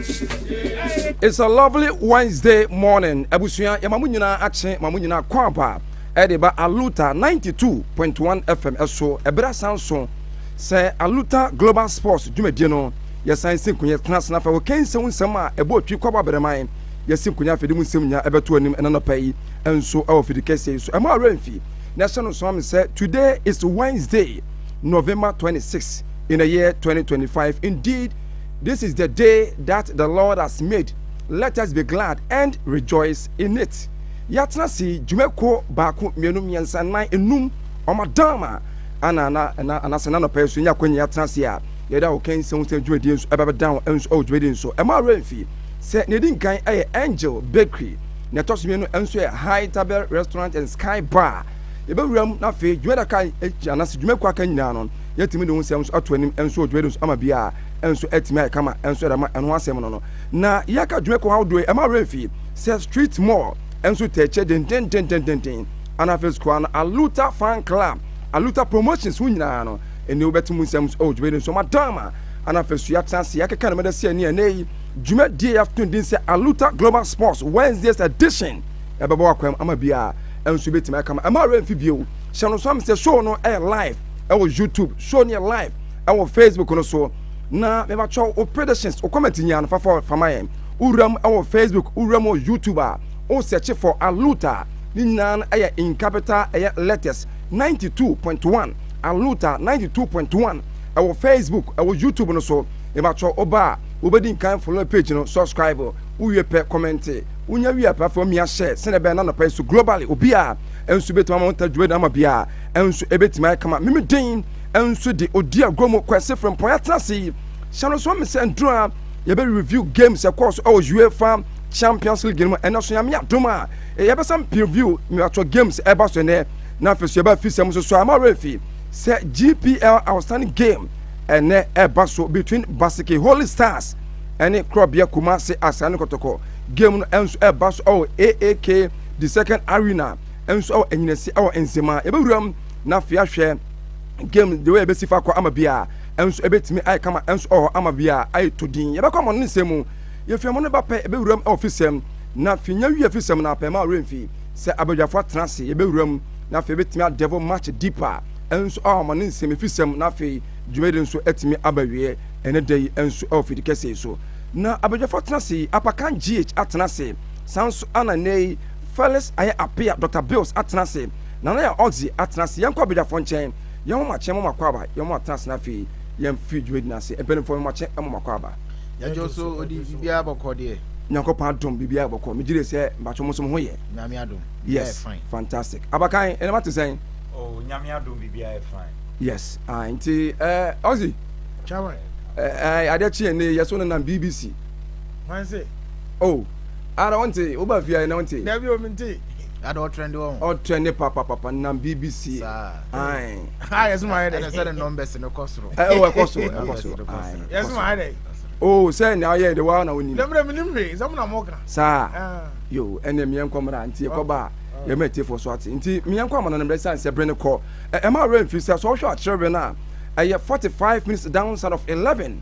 It's a lovely Wednesday morning. Abusua, yɛma mo nyinaa akye, ma mo nyinaa kɔ aba. Ɛde ba Aluta 92.1 FM ɛso, ɛberɛ asan so. Sɛ Aluta Global Sports dwumadie no, yɛsan si nkonya tena asena fɛ wɔ kɛnsɛ wo nsɛm a ɛbɔ otwi kɔ aba berɛman. Yɛsi nkonya afidi mu nsɛm nyinaa ɛbɛto anim ɛna nɔpa yi ɛnso ɛwɔ fidi kɛseɛ yi so. Ɛma awura mfi na ɛhyɛ no sɔn me sɛ today is Wednesday, November 26 in the year 2025. Indeed, This is the day that the Lord has made, let us be glad and rejoice in it. Yɛatena ase dwumakuo baako, mmienu, mmiɛnsa, nnan, nnum, wɔn adaama, ana na ɛna anasɛ na nɔpɛ nso nya akɔnya yɛatena ase a yɛda wɔ kɛn sɛ wosɛ dwumadie nso ɛba bɛda ho nso ɛwɔ dwumadie nso ɛma awura mfi sɛ na ɛdi nkan ɛyɛ Angel Bakery na ɛtɔ so mmienu nso yɛ High Tabel Restaurant and Sky Bar yɛbɛwura mu na afei dwumada ka anasɛ dwumakuo aka nyinaa no Yɛatumi de wo nsɛm nso ato anim nso wɔ dwumadie no so ama bia nso atumi ayɛ kama nso de ama ɛno ho asɛm no no. Na yɛaka dwuma kɔ ahodoɔ yi ɛma werɛmfii sɛ Street Mall nso taa kyɛ dendendendendenden anaa afei nso koraa no Aluta Fan Club, Aluta Promotions ho nyinaa no ɛnnie wobɛte mo nsɛm nso wɔ dwumadie no so ma Dama anaa afei nso yɛatena ase yɛakeka no mɛda sɛ ɛnnie ɛnnɛ yi dwumadie a yɛato no din sɛ Aluta Global Sports Wednesdays Edition ɛbɛbɔ w'akwan mu ama bia nso bɛtumi ayɛ kama ɛma werɛmfi bio. Hyɛ no nso ame sɛ show no ɛyɛ live. ɛwɔ youtube show no yɛ live ɛwɔ facebook no so na mebakyɛ wo predictions wo comment nyinaa no fafa fama yɛn wowura mu ɛwɔ facebook wowura mu wɔ youtube a wo search for aluta ne nyinaa no ɛyɛ in capital ɛyɛ letters 92.1 aluta 92.1 ɛwɔ facebook ɛwɔ youtube no so mebakyɛ wo ba a wobɛdi nkan follow page no subscribe wowie pɛ comment wonya wie pɛ afei mmea hyɛ sɛnɛ bɛn na nɔpɛ so globally obi a ɛnso bɛtumi ama wo nta dwuma ama biara nso ebetumi ayɛ kama mimi den nso de odi agorɔ mu kwasi frempɔn atena ase yi hyɛ no so mi sɛ nduro a yɛbɛ review games ɛkɔɔ so ɛwɔ UEFA Champions League no mu ɛnɛ so nyame adom a yɛbɛsan preview mmebatɔ games ɛba so ɛnɛ na afei so yɛbɛ afisɛm nso so ama refi sɛ GPL outstanding game ɛnɛ ɛba so between Basiki Holy Stars ɛne Korɔbea Kumase Asae ne Kɔtɔkɔ game no ɛnso ɛba so ɛwɔ AAK the second arena nso wɔ enyinasi wɔ nsɛm a yɛbɛwura mu na afei ahwɛ game de wɔ yɛbɛsi fa kɔ ama bi a nso ɛbɛtumi ayɛ kama nso wɔ hɔ ama bi a ayɛ to din yɛbɛkɔ ama no ne nsɛm mu yɛfiri ama no ba pɛ yɛbɛwura mu wɔ fisɛm na fi nya wie fisɛm na apɛ ma ɔwerɛ mfi sɛ abadwafoɔ atena ase yɛbɛwura mu na afei bɛtumi adɛvo match deeper nso wɔ ama no nsɛm fisɛm na afei dwumadi nso atumi aba wie ɛne da yi nso wɔ fidi kɛse so na abadwafoɔ atena ase apakan gh atena ase saa nso ana nnɛ yi Felix ayɛ apea Doctor Bills atena ase Nana yɛ Oxy atena ase Yɛnkɔ Abegyafo nkyɛn Yɛn homakye mo makɔ aba Yɛn atena ase no afei Yɛn firi dwumadi no ase Mpanyinfoɔ me homakye mo makɔ aba. Yɛgye wo so odi biribiara bɔkɔ deɛ. Nyankopɔn adom biribiara bɔkɔ me gyidie sɛ mpakyɛw mo nso mo ho yɛ. Nyame adom biribiara yɛ fine. Yes fantastic abakan nneɛma te sɛn. Oh Nyame adom biribiara yɛ fine. Yes ae nti eh Oxy. Kyɛw eh. Eh adeɛ kye yɛn nnɛ yi yɛso nenam bbc. Hwan se? Oh. Ara wonte? Woba fie ayɛ na wonte? Dabi o, mente. Ada ɔtrɛnde wɔ ho. Ɔtrɛnde papapapa nam BBC. Saa. Ae. Ha yɛsom ayɛ dɛ. Ɛna sɛ ne nɔmbɛs no kɔ soro. Ɛwɔ eh, ɛkɔ soro, ɛkɔ soro. Ae. Yɛsom ayɛ dɛ. Oh, sɛ nea ayɛ de waa na wonim. Dɛmmerɛ menim hwee, sɛ mo na mo ka. Saa. Ah. Yo, ɛne mmea nkɔ mmra nti yɛkɔ ba a. Yɛma atiefoɔ so ate nti mmea nkɔ amana no mmerɛ sane sɛ bere no kɔ. Ɛma awura mfiri sɛ sɛ ɔhwɛ akyerɛbere no a ɛyɛ 45 minutes down side of 11.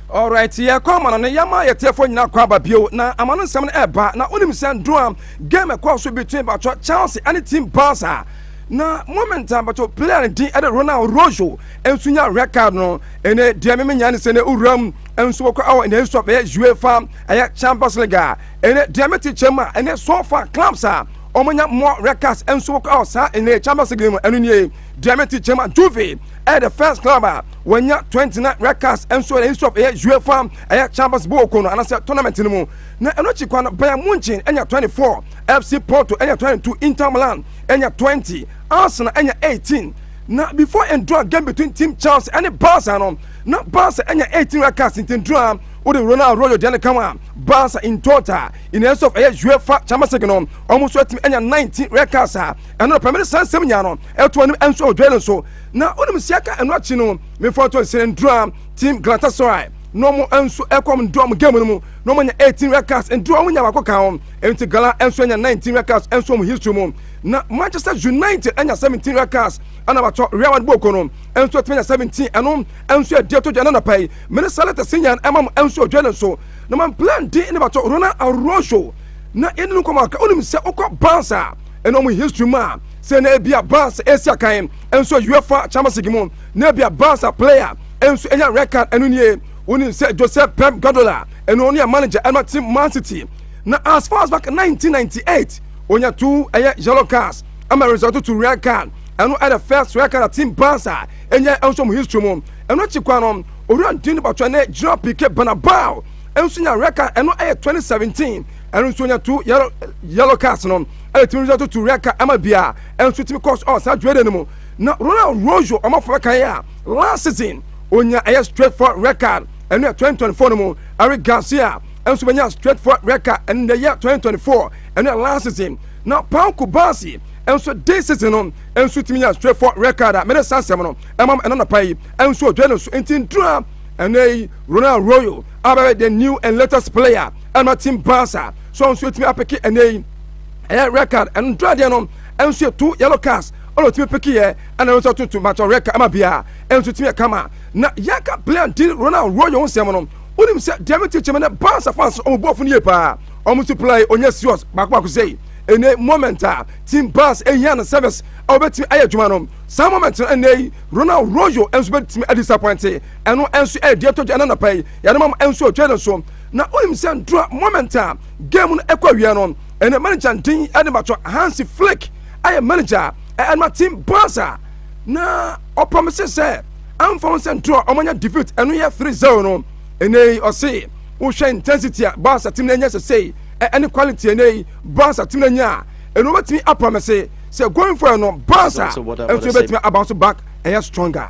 Alright yɛ kɔ ama no ne yɛma yɛ tiɛfoɔ nyinaa kɔ aba bio na ama no nsɛm no ɛba na wonim sɛ ndura game ɛkɔɔ so between batwɔ Chelsea ɛne team Barca na moment a batwɔ player no din ɛde Ronald Rojo nso nya red card no ɛnɛ deɛ me menya ne sɛ ne owura mu nso wɔkɔ ɛwɔ ɛnɛ nso ɛyɛ UEFA ɛyɛ Champions League a ɛnɛ deɛ me te kyɛm a ɛnɛ so far clubs a wɔn nya more red cards nso wɔkɔ ɛwɔ saa ɛnɛ Champions League mu ɛno nie Diamante Chairman Juve ɛyɛ the first club a wɔanya 29 red cards nso ɛyɛ history of ɛyɛ UEFA ɛyɛ Champions League ko no anasɛ tournament no mu na ɛno akyi kwa no Bayern Munchen ɛnya 24 FC Porto ɛnya 22 Inter Milan ɛnya 20 Arsenal ɛnya 18 na before ndura game between team Chelsea ɛne Barca no na Barca ɛnya 18 red cards nti ndura wode Ronald Royo deɛ no ka ho a Barca in total in the of ɛyɛ UEFA Champions League no wɔn nso atumi ɛnya 19 red cards a ɛno no pɛ mede saa nsɛm nyaa no ɛto anim ɛnso ɔdwɛle nso na wonim si aka ɛno akyi no mefa ɔtɔ nsɛnɛndura team Galatasaray na ɔmo nso ɛkɔm ndɔ ɔmo game no mu na ɔmo anya 18 records ndura ɔmo nya baako ka ho ɛnti Gala ɛnso anya 19 records ɛnso ɔmo history mu na Manchester United anya 17 records ɛna batɔ Real Madrid bɔɔko no ɛnso ɛtumi anya 17 ɛno ɛnso ɛdi ɛtɔ dwa ɛna napa yi mene salata sinyan ɛma mo ɛnso ɔdwɛle nso na man plan di ne batɔ Ronald Arroyo na yɛne no nkɔmɔ aka wonim sɛ wokɔ Barca ɛna wɔn history mu a sɛ na ebi a bars esi akan nso uefa champions league mu na ebi a bars a player nso enya red card ɛno nie wonim sɛ joseph pep guardiola ɛno ɔno yɛ manager ɛma team man city na as far as back 1998 onya two ɛyɛ yellow cards ama result to red card ɛno ɛna first red card a team bars a ɛnyɛ nso mu history mu ɛno akyi kwa no owura ndin bakyɛ ne gyina pike banabao nso nya red card ɛno ɛyɛ 2017 ɛno nso nya two yellow yellow cards no ɛna tumi nso toto red card ɛma bia ɛnso tumi kɔs ɔ saa dwere no mu na Ronald Rojo ɔmafo bɛka yɛ a last season onya ɛyɛ straight for red card ɛno yɛ 2024 no mu Eric Garcia ɛnso bɛnya straight for red card ɛno yɛ yɛ 2024 ɛno yɛ last season na Paul Kubasi ɛnso this season no ɛnso tumi nya straight for red card a mɛde saa nsɛm no ɛmam ɛna nɔpa yi ɛnso ɔdwɛ no so nti ntura ɛnɛ yi Ronald Rojo abɛyɛ the new and latest player ɛma tim paa saa so nso etumi apeke ɛnɛ yi ɛyɛ red card ɛno ntura deɛ no ɛnso yɛ two yellow cards ɛna otumi peke yɛ ɛna nso tutu matɔ red card ɛma bia ɛnso tumi ɛkama na yɛka player di ronald royo ho nsɛm no wonim sɛ deɛ me tikyi me ne bansa fans ɔmo bu ɔfo no yie paa ɔmo nso play onyɛ serious baako baako sɛyi ɛnɛ moment a team bas ɛhia no service a wɔbɛtumi ayɛ adwuma no saa moment no ɛnɛ yi ronald royo nso bɛtumi adisappointe ɛno nso ɛyɛ deɛ tɔgya ɛna napa yi yɛde ma ɛnso ɔtwa ne so Na wonim sɛ ntora moment a game no ɛkɔ awie no ɛnɛ manager ndin ɛne batɔ Hansi Flick ayɛ manager a ɛnma team Barca na ɔpromise sɛ amfa ho sɛ ntora ɔmo anya defeat ɛno yɛ 3-0 no ɛnɛ yi ɔse wohwɛ intensity a Barca team no anya sɛsɛi ɛne quality ɛnɛ yi Barca team no anya a ɛno ɔbɛtumi apromise sɛ going forward no Barca ɛnso ɛbɛtumi aba so back ɛyɛ stronger.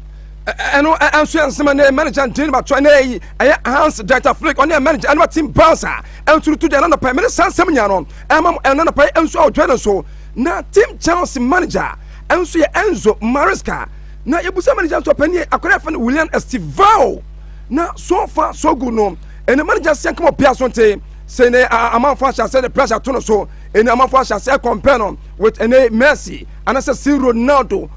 ɛno nso yɛ nsɛm a ne manager ntini no batoa ne yi ɛyɛ hans dieter flick ɔne yɛ manager ɛne ma team barca ɛnso no to deɛ ɛna nɔpɛ mene saa nsɛm nyinaa no ɛma ɛna nɔpɛ ɛnso a ɔtwa no so na team chelsea manager ɛnso yɛ enzo maresca na yɛbusa manager nso ɔpɛ ne akɔrɛ ɛfɛ no william estivao na so fa so gu no ɛne manager sɛ nkama ɔpia so nte sɛ ne amanfo ahyɛ asɛ de pressure to no so ɛne amanfo ahyɛ asɛ compare no with ɛne messi anasɛ si ronaldo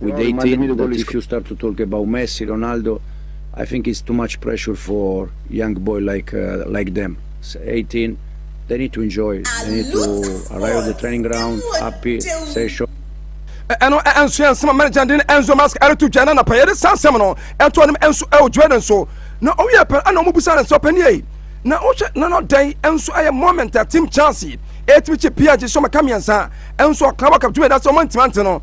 with Eighteen that is Ronaldo is should start to talk about Messi, Ronaldo. I think it's too much pressure for young boy like uh, like them. It's 18, they need to enjoy. They need to arrive at the training ground, happy, session. ɛno ɛnso yɛn nsɛm manager de ɛnso mask ɛreto dwa na napa yɛde saa nsɛm no ɛto anim ɛnso ɛwɔ jordan so na ɔwia pɛn ɛna ɔmo busa ne nsɛ ɔpɛni yɛ na ɔhwɛ na n'ɔdan ɛnso ɛyɛ moment a team chance ɛtumi kye pia gye sɔmɔ ka mmiɛnsa ɛnso ɔkan wakam tumi ɛda sɛ ɔmo ntima nti no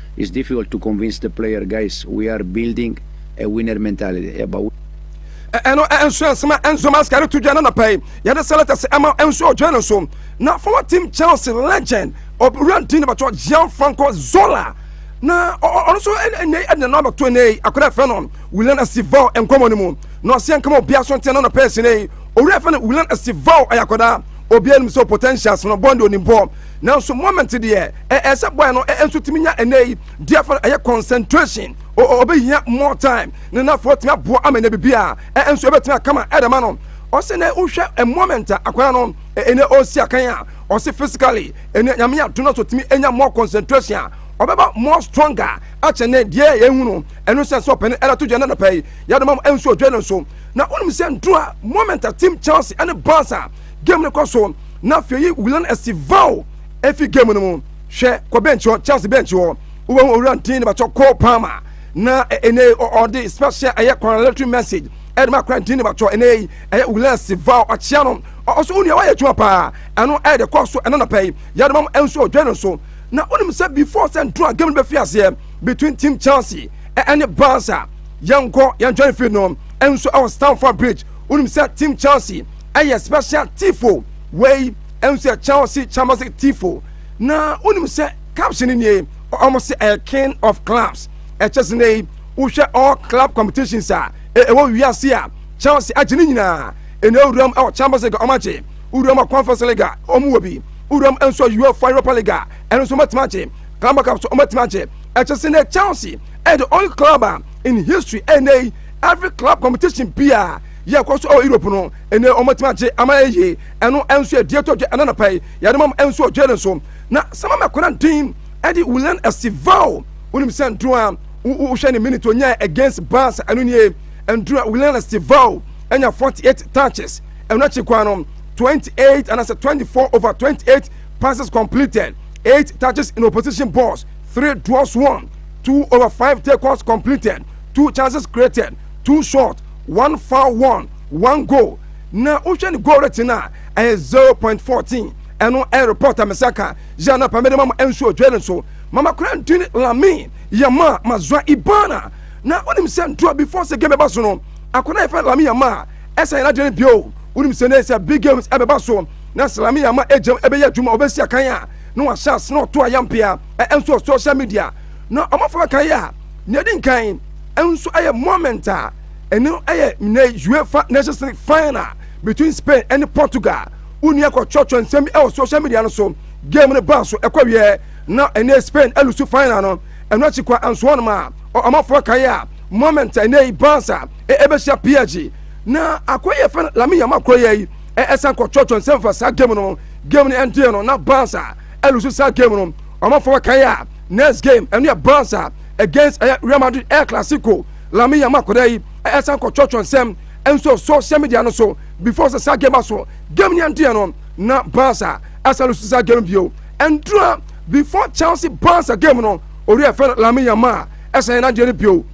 It's difficult to convince the player guys we are building a winner mentality ɛba wo. Ɛno nso ɛnsema Enzo Mascaro to dwa n'anɔpa yi yɛde selectors ɛma Enzo ɔdwa no nso na former team Chelsea legend ɔwura ntin bɛtɔ Gianfranco Zola na ɔno nso ɛnɛ ɛde no abɛto ɛnɛ yi akɔda ɛfɛ no Willian Estival nkɔmɔ no mu na ɔsɛ nkɔmɔ obiara so ntina n'anɔpa ɛsɛ yi owura ɛfɛ no Willian Estival ɛyɛ akɔda obiara nim sɛ potentials no bɔn de onim bɔ Nanso moment deɛ ɛɛ sɛ boy no ɛɛ nso tumi nya ɛnɛ yi deɛ fɛn ɛyɛ concentration o o ɔbɛhia more time ne nafo tumi aboa ama nya bibi a ɛɛ nso ɛbɛtumi akama ɛde ma no ɔsɛ nɛ wohwɛ ɛ moment a akwadaa no ɛnɛ ɔresi akan a ɔsɛ physically ɛnɛ nyame ato no so tumi nya more concentration a ɔbɛba more stronger akyɛ nɛ deɛ yɛhu no ɛno sɛ sɛ ɔpɛne ɛda to dwa no nɔpɛ yi yɛde ma ɛnso ɔdwa no nso na wonim sɛ ntoro a moment a team Chelsea ɛne Barca Game no kɔ so na afei yi Willan Estivao efi game no mu hwɛ kɔ bench hɔ Chelsea bench hɔ wobɛhu owura ntin ne batɔ Cole Palmer na ɛnɛ e, ɔde special ɛyɛ congratulatory message ɛde ma akora ntin ne batɔ ɛnɛ yi ɛyɛ Willan Estivao ɔkyea no ɔso onua wayɛ adwuma paa ɛno ɛde kɔ so ɛna nɔpɛ yi yɛde mam nso ɔdwɛ no so na wonim sɛ before sɛ nto a game no bɛfi aseɛ between team Chelsea ɛne Barca yɛnkɔ yɛntwɛn fi no nso ɛwɔ Stamford Bridge wonim sɛ team Chelsea ɛyɛ special tifo wei nso yɛ chelsea champions league tifo na wonim sɛ caption nie ɔmo sɛ ɛyɛ king of clubs ɛkyɛ sɛ nɛ yi wohwɛ all club competitions a ɛwɔ wiase a chelsea agye ne nyinaa ɛna ewuram ɛwɔ champions league ɔmo agye ewuram wɔ conference league a ɔmo wɔ bi ewuram nso uefa europa league a ɛno nso ɔmo atumi agye club cup so ɔmo atumi agye ɛkyɛ sɛ nɛ chelsea ɛyɛ the only club a in history ɛnɛ yi every club competition bia yɛ kɔ so ɛwɔ europe no ɛnɛ wɔn atumi agye ama yɛ yie ɛno nso yɛ deɛ tɔ dwa ɛna napa yi yɛde mam nso wɔ jail nso na sama mɛkora den ɛde wulan asival wonim sɛ nduro a wohwɛ ne minute onyaa against bars ɛno nie nduro a wulan asival ɛnya 48 touches ɛno akyi kwan no 28 anaasɛ 24 over 28 passes completed 8 touches in opposition balls 3 draws 1 2 over 5 takeouts completed 2 chances created 2 shots one foul one one goal na wohwɛ ne goal rate no a ɛyɛ zero point fourteen ɛno ɛyɛ report a mɛsɛ aka yɛ na pamɛde ma mo ɛnso odwere no so mama kora ntini lamin yɛ ma ma zwa ibana na wonim sɛ ntoa before sɛ game ɛba so no akɔda yɛfɛ lamin yɛ ma ɛsɛ yɛn adwene bio wonim sɛ ne sɛ big games ɛbɛba so na sɛ lamin yɛ ma ɛgyam ɛbɛyɛ adwuma ɔbɛsi akan a na wahyɛ ase na ɔto ayampea ɛnso social media na ɔmafo bɛkan yɛ a Nea edi nkan nso yɛ moment a ɛno yɛ nnɛ UEFA Nations League final between Spain ne Portugal. Wonni akɔtwerɛtwerɛ nsɛm bi wɔ social media no so. Game no baa so kɔwieɛ na ɛnɛ Spain alusu final no. Ɛno akyi kɔ anso hɔnom a ɔmanfoɔ kae a moment a ɛnɛ yi Barca ɛbɛhyia PSG na akɔyɛ yɛfrɛ no Lamine Yamal korɔyɛ yi ɛsan kɔtwerɛtwerɛ nsɛm fa saa game no ho. Game no ɛndeɛ no na Barca alusu saa game no ɔmanfoɔ kae a Next game ɛno yɛ Barca against ɛyɛ Real Madrid El Clasico. Lamine Yamal akwadaa yi ɛsan kɔ kyɔkyɔ nsɛm nso social media no so before sɛ saa game ba so. Game ni ɛnteɛ no na Barca asan lusu saa game bio. Ɛndura before Chelsea Barca game no ɔwura ɛfɛ no Lamine Yamal ɛsan yɛ n'adeɛ no bio.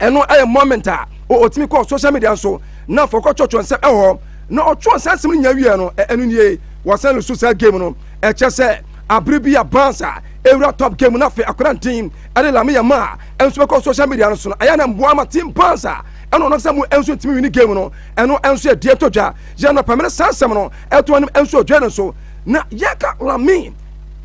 Ɛno ɛyɛ moment a ɔtumi kɔ social media nso na afɔ kɔ kyɔkyɔ nsɛm ɛwɔ hɔ na ɔtwerɛ saa nsɛm no nyɛ wie no ɛno nie wɔsan lusu saa game no ɛkyɛ sɛ abere bi a Barca Ewura top game na afei akora ntin ɛde Lamine Yamal ɛnso bɛkɔ social media no so no ɛyɛ na mboa ama team pans a ɛna ɔnam sɛ mo ɛnso ntumi wini game no ɛno ɛnso ɛdeɛ tɔ dwa yɛ na pɛmene saa nsɛm no ɛto anim ɛnso ɔdwa no so na yɛka Lamine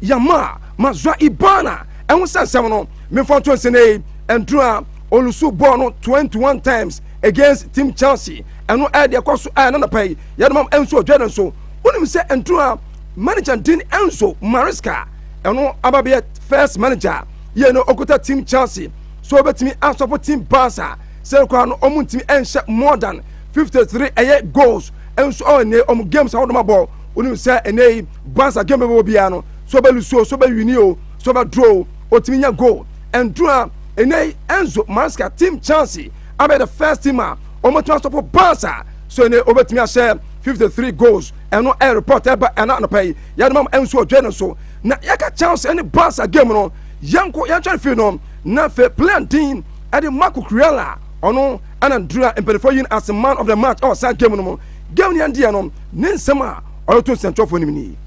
Yamal ma zwa ibana ɛho sɛ nsɛm no mefa nto nsɛnei ɛnduro a olusu bɔɔl no 21 times against team Chelsea ɛno ɛdeɛ kɔ so ɛna napa yi yɛ na mam ɛnso ɔdwa no so wonim sɛ ɛnduro a Manager din Enzo Maresca, ɛno ababea first manager yɛ no okuta team Chelsea, so obetumi asɔpo team Barca, sɛ koraa no ɔmo ntumi ɛnhyɛ more than 53 ɛyɛ goals, ɛnso ɔwɔ ɛnɛ ɔmo games ahodoɔ ma bɔ, onim sɛ ɛnɛ yi Barca game bɛbɔ biara no, so ɔbɛ lose o, so ɔbɛ wini o, so ɔbɛ draw o, otumi nya goal, ɛndura ɛnɛ yi Enzo Maresca team Chelsea abɛyɛ the first team a ɔmo tumi asɔpo Barca, so ɛnɛ obetumi ahyɛ 53 goals. ɛno ɛyɛ report ɛba ɛna anɔpa yi yɛde mam nso ɔdwe no so na yɛka chance ɛne barca game no yɛnko yɛntwɛre fii no na afei plan din ɛde marco kurela ɔno ɛna ndura mpanimfoɔ yi as man of the match ɛwɔ saa game no mu game no yɛn deɛ no ne nsɛm a ɔde to nsɛntwerɛfoɔ no mu ni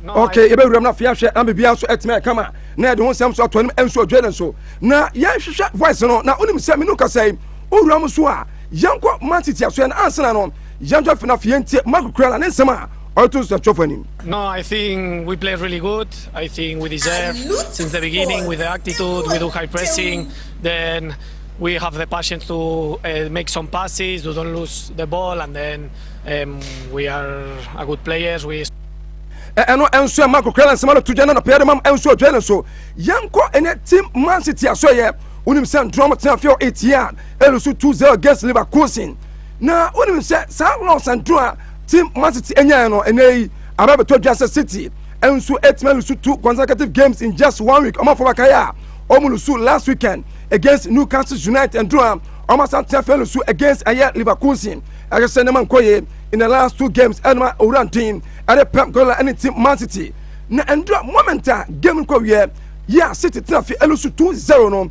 okay yɛbɛwuram no afei ahwɛ na biribiara nso atumi ayɛ kama na yɛde ho nsɛm so ato anim nso ɔdwe no nso na yɛnhwehwɛ voice no na wonim sɛ mene kasa yi wowura m so a Yɛnkɔ ma nteteasoɛ no ansana no yɛnto afei no afei yɛntie Mark Kurala ne nsɛm a ɔde to nsuatwerɛfoɔ anim. No, I think we played really good. I think we deserve since the beginning with the attitude, we do high pressing, then we have the passion to uh, make some passes, we don't lose the ball, and then um, we are a good players. We ɛno nso ɛma kokoa na nsɛm no to gya na nɔpɛyɛ de mam nso adwa no nso yɛnkɔ ɛnɛ tim mansi tiasoɛyɛ wonim sɛ ntorɔm tena afei ɔɛtie a Elu nso tu Zeo Gas Leverkusen. Na wonim sɛ saa loss aduru a team Man City nyae no ɛnɛ yi aba abɛtɔ dwa sɛ City nso atumi alusu two consecutive games in just one week. Wɔn afɔba kae a wɔn lusu last weekend against Newcastle United aduru a wɔn asan tena afei lusu against ɛyɛ Leverkusen. Ɛyɛ sɛ nneɛma nkɔ yie in the last two games ɛnoma owura nten ɛde Pep Guardiola ne team Man City. Na ɛndura moment a game no kɔ wiɛ yɛ a City tena afei alusu two zero no.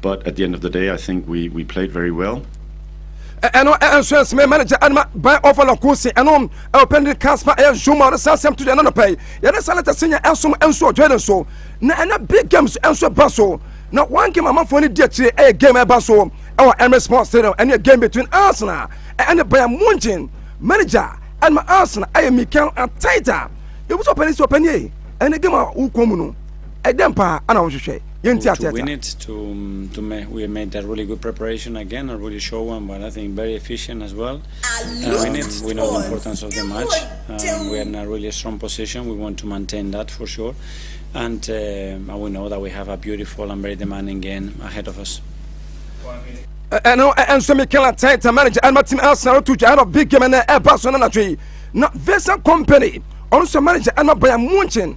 But at the end of the day, I think we, we played very well. ɛno nso ɛsɛ mɛ manager anima ban ɔfa la ko se ɛno ɛwɔ pɛn de kan spa ɛyɛ nso ma ɔde saa sɛm to deɛ ɛnanɔ pɛi yɛde sɛ lɛtɛ se nyɛ ɛnso ɛnso ɔdwɛ ne so na ɛnɛ big games ɛnso ɛba so na one game amanfoɔ ne di akyire ɛyɛ game ɛba so ɛwɔ Emirates Sports Stadium ɛne game between Arsenal ɛne Bayern Munchen manager anima Arsenal ɛyɛ Mikel Arteta yɛbu sɛ ɔpɛni sɛ ɔpɛni ɛne game a wokɔ mu no Ɛdɛn paa na wohwehwɛ? Yɛnti aseɛ ata. ɛno ɛnso Mikel Arteta manager ɛnma team Arsenal to twa ɛnɔ big game ɛnɛ ɛba so no natwe na Vincent Kompany ɔno nso manager ɛnma Bayern Munchen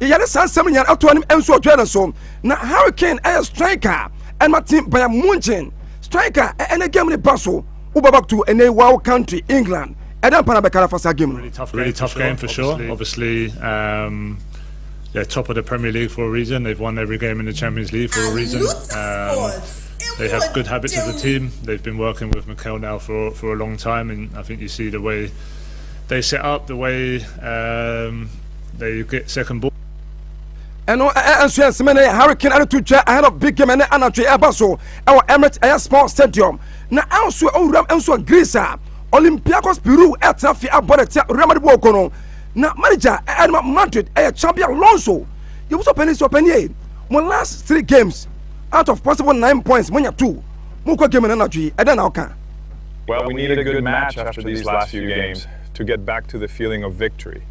Yɛyare saa nsɛm nyinaa ato anim nso ɔdwɛɛ no so. Na Harry Kane yɛ striker a ɛma team Bayern Munchen. Striker a ɛne game ne ba so. Wobɔ back to ɛnɛ yi Wow Country, England. Ɛdɛ mpa na bɛka no afa saa game no. Really tough game, really tough game for sure. Obviously, um, they're top of the Premier League for a reason. They've won every game in the Champions League for a reason. Um, they have good habits as a team. They've been working with Mikel now for for a long time, and I think you see the way they set up, the way. Um, There you get second ball. ɛno nso yɛ nsɛmɛ ne hurricane ɛne to twa ahead of big game ɛne anadwo ɛba so ɛwɔ emirates ɛyɛ sport stadium na ɛnso owuram nso wɔ greece a olympiacos peru ɛtena fi abɔ ne tia real madrid bɔɔko no na manager ɛnema madrid ɛyɛ champion alonso yɛwuso pɛni sɛ ɔpɛni yɛ mo last three games out of possible nine points monya two mokɔ game no anadwo yi ɛdɛn na ɔka Well, we need a good match after these last few games. to get back to the feeling of victory.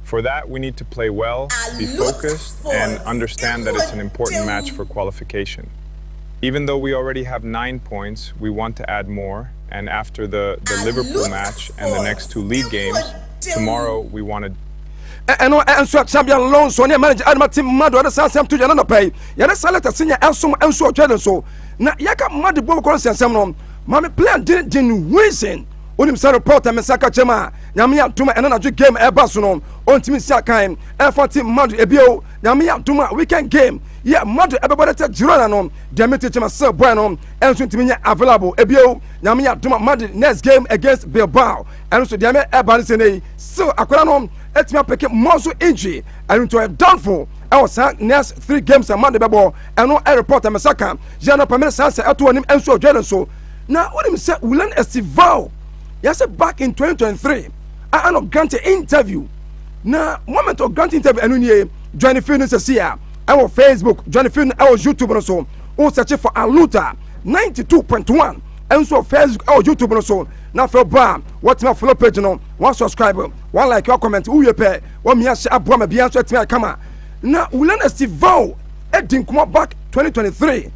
For that we need to play well, be focused and understand that it's an important match for qualification. Even though we already have 9 points, we want to add more and after the, the Liverpool match and the next two league games, tomorrow we want to ɛno nso a champion lonso ne manager adama tim mmado ɛde saa asɛm to yɛn anɔpa yi yɛde saa lɛtɛ senya ɛsom nso ɔtwa ne so na yɛka mmade bɔ kɔrɔ nsɛnsɛm no maame plan den den huizen wonim sɛ report a mesa ka kyɛm a nyame yɛ adom a ɛna nadwo game ɛba so no ɔntumi si akan ɛfa te mmado ebio nyame yɛ adom a weekend game yɛ mmado ɛbɛbɔ dɛ tɛ girona no deɛ mete kyɛm sɛ bɔɛ no ɛnso ntumi nyɛ available ebio nyame yɛ adom a madrid next game against bilbao ɛno so deɛ me ɛba no sɛ nei still akora no ɛtumi apɛke mmɔ so injury ɛno nti ɔyɛ downfall ɛwɔ saa next three games a madrid bɛbɔ ɛno ɛreport a mesa ka yɛ no pamene saa sɛ ɛto anim ɛnso ɔdwɛ no so Na wonim sɛ Wulan Estival yɛsɛ back in 2023 a ano grant interview na moment of grant interview ɛno nie join field no sɛsi a ɛwɔ Facebook join field no ɛwɔ YouTube no so wo search for Aluta 92.1 ɛnso wɔ Facebook ɛwɔ YouTube no so na afɛ bɔ a wɔtumi follow page no wɔn subscribe wɔn like wɔn comment wowie pɛ wɔn mia hyɛ aboa ma bia nso ɛtumi ayɛ kama na Wulan Estival ɛdi nkɔmɔ back 2023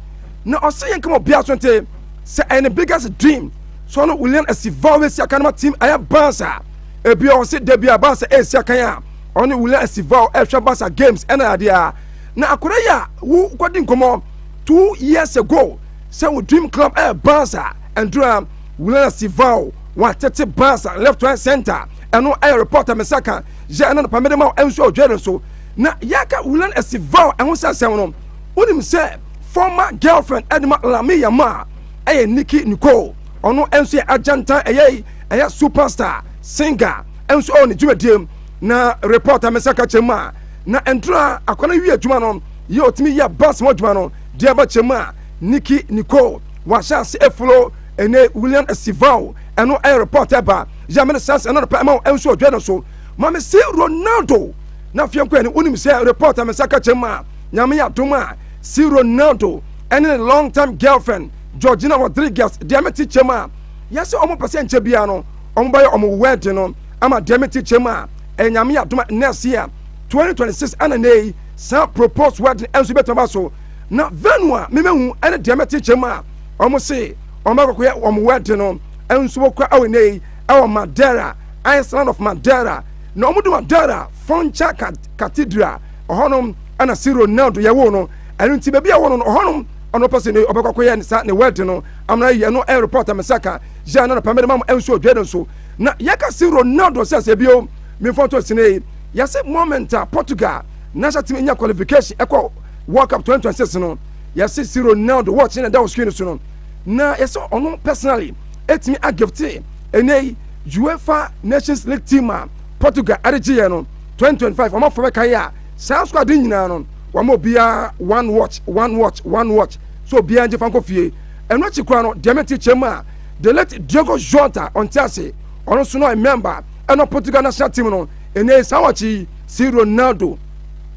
na ɔsɛ yɛn kama obiara so nte sɛ ɛyɛ ne biggest dream sɛ ɔno william asivaw bɛsi akan ma team ɛyɛ bans a ebi ɔwɔ se da bi a bans ɛsi akan a ɔne william asivaw ɛhwɛ bans a games ɛna adeɛ a na akora yi a wo kɔdi nkɔmɔ two years ago sɛ wo dream club ɛyɛ bans a ɛndura william asivaw watete bans a left right center ɛno ɛyɛ report a mesa ka yɛ ɛna nopamede ma ɛnso ɔdwɛre so na yɛka william asivaw ɛho sɛ asɛm no wonim sɛ former girlfriend ɛde ma Lami Yamal ɛyɛ Nicki Nicole ɔno nso yɛ agyantan ɛyɛ ɛyɛ superstar singer nso ɛwɔ ne dwumadie mu na reporter mɛsa ka kyɛ mu a na ndura akɔla wie adwuma no yɛ ɔtumi yɛ bus mu adwuma no deɛ ɛba kyɛ mu a Nicki Nicole wahyɛ ase efulo ɛne William Estivao ɛno ɛyɛ reporter ba yɛ mene saa sɛ ɛna no pɛ ɛma wɔn nso ɔdwa no so maame si Ronaldo na afei nko ɛne wonim sɛ reporter mɛsa ka kyɛ mu a Nyame adom a, see Ronaldo ɛne ne long time girlfriend Georgina Rodriguez deɛ mete kyɛm a, yɛse ɔmo pɛsɛ nkyɛ biara no ɔmo bɛyɛ ɔmo wedding no ama deɛ mete kyɛm a, ɛyɛ Nyame adom a next year 2026 ɛna nnɛ yi saa proposed wedding ɛnso bɛtumi aba so na venue a memahu ɛne deɛ mete kyɛm a, ɔmo se ɔmo bɛkɔ kɔyɛ ɔmo wedding no ɛnso wɔ kura ɛwɔ nnɛ yi ɛwɔ Madeira, Island of Madeira na ɔmo de Madeira Foncha Cathedral ɔhɔnom ɛna siro na do yɛwoo no ɛno nti baabi a wɔno no ɔhɔnom ɔno ɔpɛ sɛ ɔbɛkɔ akɔyɛ ne sa ne wɛɛde no amena yɛ no ɛyɛ report me sɛ ka yɛ na nɔpɛ mede ma mo ɛnso odwe no nso na yɛka siro na do sɛ sɛ bio mefɔ to sene yɛse moment a Portugal na hyɛ tumi nya qualification ɛkɔ World Cup 2026 no yɛse siro na do wɔkye na ɛda wɔ screen so no na yɛsɛ ɔno personally ɛtumi agifte ɛnɛ UEFA Nations League team a Portugal ɛde gye yɛ no 2025 wɔn afɔ bɛkan yɛ a saa sukuu ade nyinaa no wɔn obiara one watch one watch one watch so obiara ngye fa nkɔ fie ɛno akyi koraa no deɛ mente kyɛm a the late Diego Jota ɔnte ase ɔno nso no ɔyɛ member ɛna Portugal national team no ɛnɛ saa wɔkyi yi si Ronaldo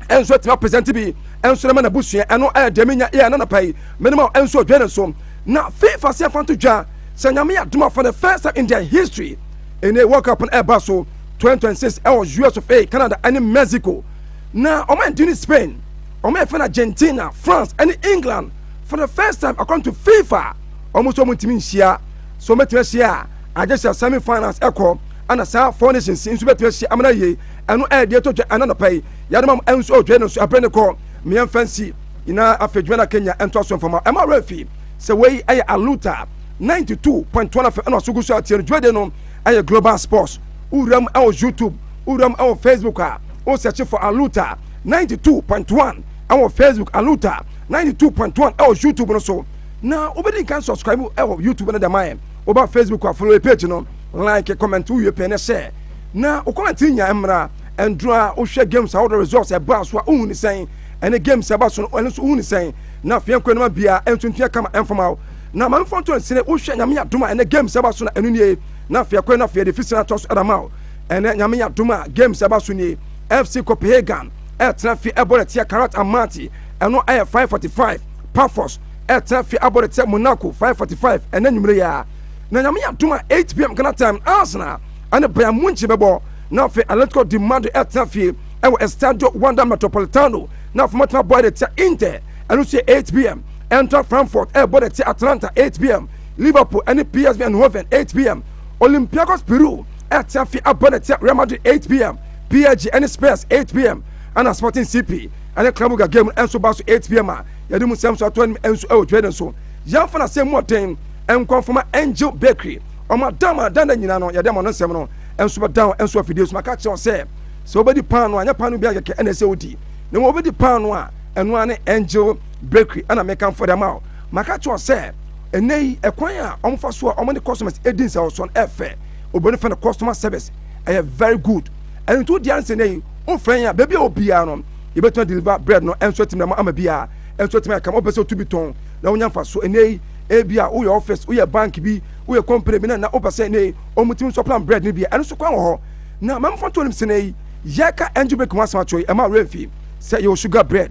ɛnso atumi apɛsɛnti bi ɛnso no ma n'abusua ɛno ɛyɛ deɛ menya yɛ nanapa yi menema ɛnso odwa ne so na FIFA se afa nto dwa sɛ nyame yɛ adom afa the first time in their history ɛnɛ World Cup no ɛba so 2026 ɛwɔ US of A, Canada ɛne Mexico. Na wɔn a ɛdi ne Spain, wɔn a ɛfɛ no Argentina, France ɛne England for the first time according to FIFA. Wɔn nso wɔn ntumi nhyia. So wɔn bɛtumi ahyia a, agye sɛ semi finals ɛkɔ ɛna saa four nations nso bɛtumi ahyia amena yie. Ɛno ɛyɛ deɛ ɛtɔ dwa ɛna nɔpɛ yi. Yɛde ma ɛnso ɔdwa no nso ɛbɛn ne kɔ. Mmea fansi nyinaa afei dwuma na Kenya ɛnto aso mfama. Ɛma wɔn afi sɛ wei ɛyɛ aluta 92.1 afɛ ɛna ɔso gu so atie no dwumadie no. ɛyɛ global sports wowura mu ɛwɔ youtube wowura mu ɛwɔ facebook a wo search for aluta 92.1 ɛwɔ facebook aluta 92.1 ɛwɔ youtube no so na wobɛdi nkan subscribe mu ɛwɔ youtube no dɛma yɛ woba facebook a follow page no like comment wowie pɛ ne share na wokɔnante nya mmra ɛnduro a wohwɛ games a wode results ɛbaa so a wohu ne sɛn ɛne games ɛba so no ɛno nso wohu ne sɛn na afei nkɔ anoma biara ɛnso ntua kama ɛmfama wo Na ma mfa nto nsene wo hwɛ nyame adom a ɛnɛ games ɛba so na ɛno nie na afei ɛkɔɛ na afei ɛde fisina atɔ so ɛda ma wo ɛnɛ nyame adom a games ɛba so nie FC Copenhagen ɛtena fi ɛbɔ de tia Karat Almaty ɛno ɛyɛ 545 Pafos ɛtena fi abɔ de tia Monaco 545 ɛnɛ nwumere yɛ a na nyame adom a 8pm Ghana time Arsenal ɛne Bayern Munich bɛbɔ na afei Atletico de Madrid ɛtena fi ɛwɔ Estadio Wanda Metropolitano na afei matena bɔ ɛde tia Inter ɛno so yɛ 8pm Eintracht Frankfurt rebɔ dɛte Atalanta, 8pm, Liverpool ne PSV Eindhoven, 8pm, Olympiacos Peru rete afe abɔ dɛte Real Madrid, 8pm, PSG ne Spurs, 8pm, ɛna Sporting CP ne Club Brugge game no nso ba so 8pm a yɛde mu nsɛm nso ato anim nso wɔ dwumadie no so. Yɛmfa n'asɛm mu ɔden nkɔ mfama Angel Bakery, wɔn adama danda nyinaa no yɛde ama no nsɛm no nso bɛdan nso afidie so. Maka akyerɛ wo sɛ sɛ wobɛdi paano a nyɛ paano biara kɛkɛ ɛna ɛsɛ wodi na mmom wobɛdi paano a ɛno ara ne Angel Bakery ɛna mekamfo de ama wo. Maka kyerɛ wo sɛ ɛnɛ yi ɛkwan a wɔn fa so a wɔn ne customers edi nsɛwɔsɔ no ɛfɛ. Obi no fɛ no customer service ɛyɛ very good. Ɛno nti wo deɛ ansɛ ɛnɛ yi wo frɛ yɛn a baabi a wɔ biara no yɛbɛtumi deliver bread no ɛnso atumi ama ama biara ɛnso atumi ayɛ kama. Wopɛ sɛ otu bi tɔn na wonya nfa so ɛnɛ yi ebi a woyɛ office woyɛ bank bi woyɛ company bi na na wopɛ sɛ ɛnɛ yi wɔn tumi nso plan bread no bi a ɛno nso kwan wɔ hɔ na mɛmfa nto nim sɛ ɛnɛ yi yɛka Angel Bakery ho asɛm akyerɛ yi ɛma awurɛ mfi sɛ yɛwɔ sugar bread.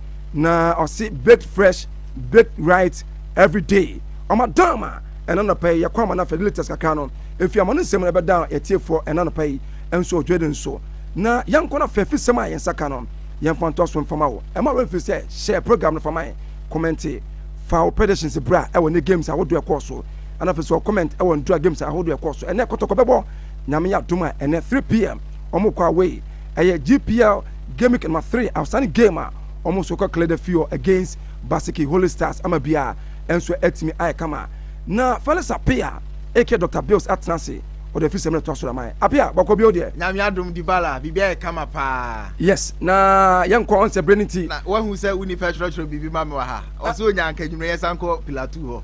na ɔse baked fresh baked right every day ɔma down ma ɛna nɔpɛ yi yɛkɔ ama no afɛ latest kakra no efi ama no nsɛm no ɛbɛda yɛtiefoɔ ɛna nɔpɛ yi nso ɔdwe de nso na yɛnkɔ no afɛ fi sɛm a yɛn nsa ka no yɛmfa ntoa so mfama wo ɛma wɛn firi sɛ hyɛ program no fama yɛn kɔmɛnte fa wo predictions bra ɛwɔ ne games ahodoɔ ɛkɔɔ so ɛna afei sɛ ɔkɔmɛnt ɛwɔ ndura games ahodoɔ ɛkɔɔ so ɛnɛ kɔtɔkɔ bɛbɔ nyame yɛ adom a ɛnɛ 3pm ɔmo kɔ away ɛyɛ GPL Game Number Three, Awsane Game a wɔn nso kɔ Cleda Fior against Basiki Holy Stars ama biara nso atumi ayɛ kama. Na Felix Apea aka Dr. Bills atena ase ɔde afi sɛm na ɛtoa so da man. Apea, bɔkɔ bio deɛ. Nyame adom Dibala, biribi ayɛ kama paa. Yes, na yɛnkɔ ɔnsɛ berɛ no nti. Na wahu sɛ wo nipa twerɛtwerɛ biribi ma me wɔ ha. Ɔsɛ ɔnya anka anwummerɛ yɛsan kɔ Pilatou hɔ.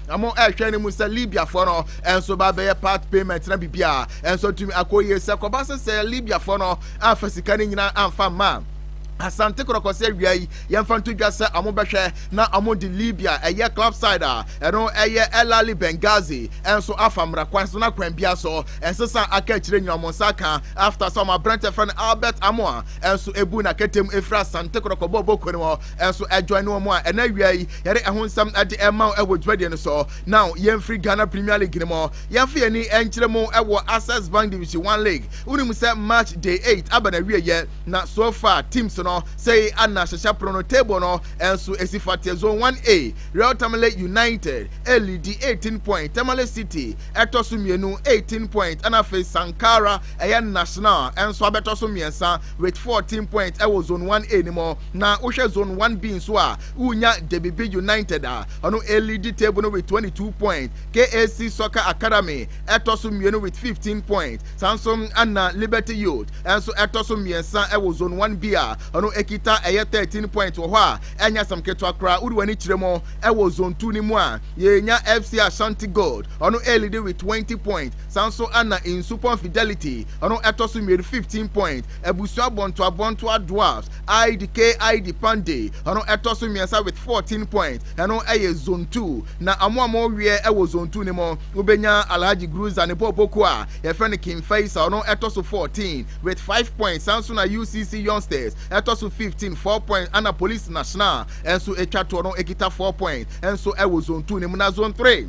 na mo ɛhwɛ ne mu sɛ libiafoɔ no ɛnso ba bɛyɛ part payment na biribi a ɛnso atumi akɔ yie sɛ kɔba sɛ sɛ libiafoɔ no amfa sika no nyinaa amfa mma asante kɔrɔkɔ sɛ awia yi yɛmfa nto dwa sɛ ɔmo bɛhwɛ na ɔmo de libya ɛyɛ club side a ɛno ɛyɛ elali bengazi ɛnso afa mmara kwan so na kwan bia so ɛnsesa aka akyire nyina ɔmo nsa ka after sɛ ɔmo aberɛntɛ fɛ no albert amoa ɛnso ebu na kɛtɛm efiri asante kɔrɔkɔ bɔɔbɔ kɔ no Ɛnso ɛjoin no wɔn a ɛnɛ awia yi yɛde ɛho nsɛm de rema wo wɔ dwumadie no so. Now yɛmfiri Ghana Premier League no mu yɛmfa yɛn ani nkyerɛ mu wɔ Access Bank Division One League. Wonim sɛ March day eight aba n'awieɛ na so far teams no sei na hyehyɛ pono no table no nso ɛsi fateɛ. Zone One A, Real Tamale United ɛlidi eighteen point, Tamale City ɛtɔ so mmienu eighteen point ɛna afei Sankara ɛyɛ National nso abɛtɔ so mmiɛnsa with fourteen point ɛwɔ Zone One A no mu. Na wohwɛ zone one B nso a, wonya Debibi United a ɔno ɛreleadi table no with twenty two points, KAC Soccer Academy ɛtɔ so mmienu with fifteen points, saa nso na Liberty Youth nso ɛtɔ so mmiɛnsa wɔ zone one B a ɔno ɛkita ɛyɛ thirteen points wɔ hɔ a ɛnyɛ asɛm ketewa koraa. Wode w'ani kyerɛ mu wɔ zone two no mu a, yɛnya FC Ashanti Gold ɔno ɛreleadi with twenty points, saa nso na Nsupɔn Fidelity ɔno ɛtɔ so mmienu fifteen points, Abusua Abɔntoa Abɔntoa Dwarfs, Aid K Aid Pandey ɔno ɛtɔ so mmiɛnsa with fourteen points ɛno ɛyɛ zone two na wɔn a wɔreweɛ ɛwɔ zone two no mu wobɛnya Alhaji Gruza ne bɔɔl bɔkuo a yɛfrɛ no King Faisal ɔno ɛtɔ so fourteen with five points saa nso na UCC Youngsters ɛtɔ so fifteen four points ɛna Police National ɛnso ɛtwa toɔ no ɛkita four points ɛnso ɛwɔ zone two no mu na zone three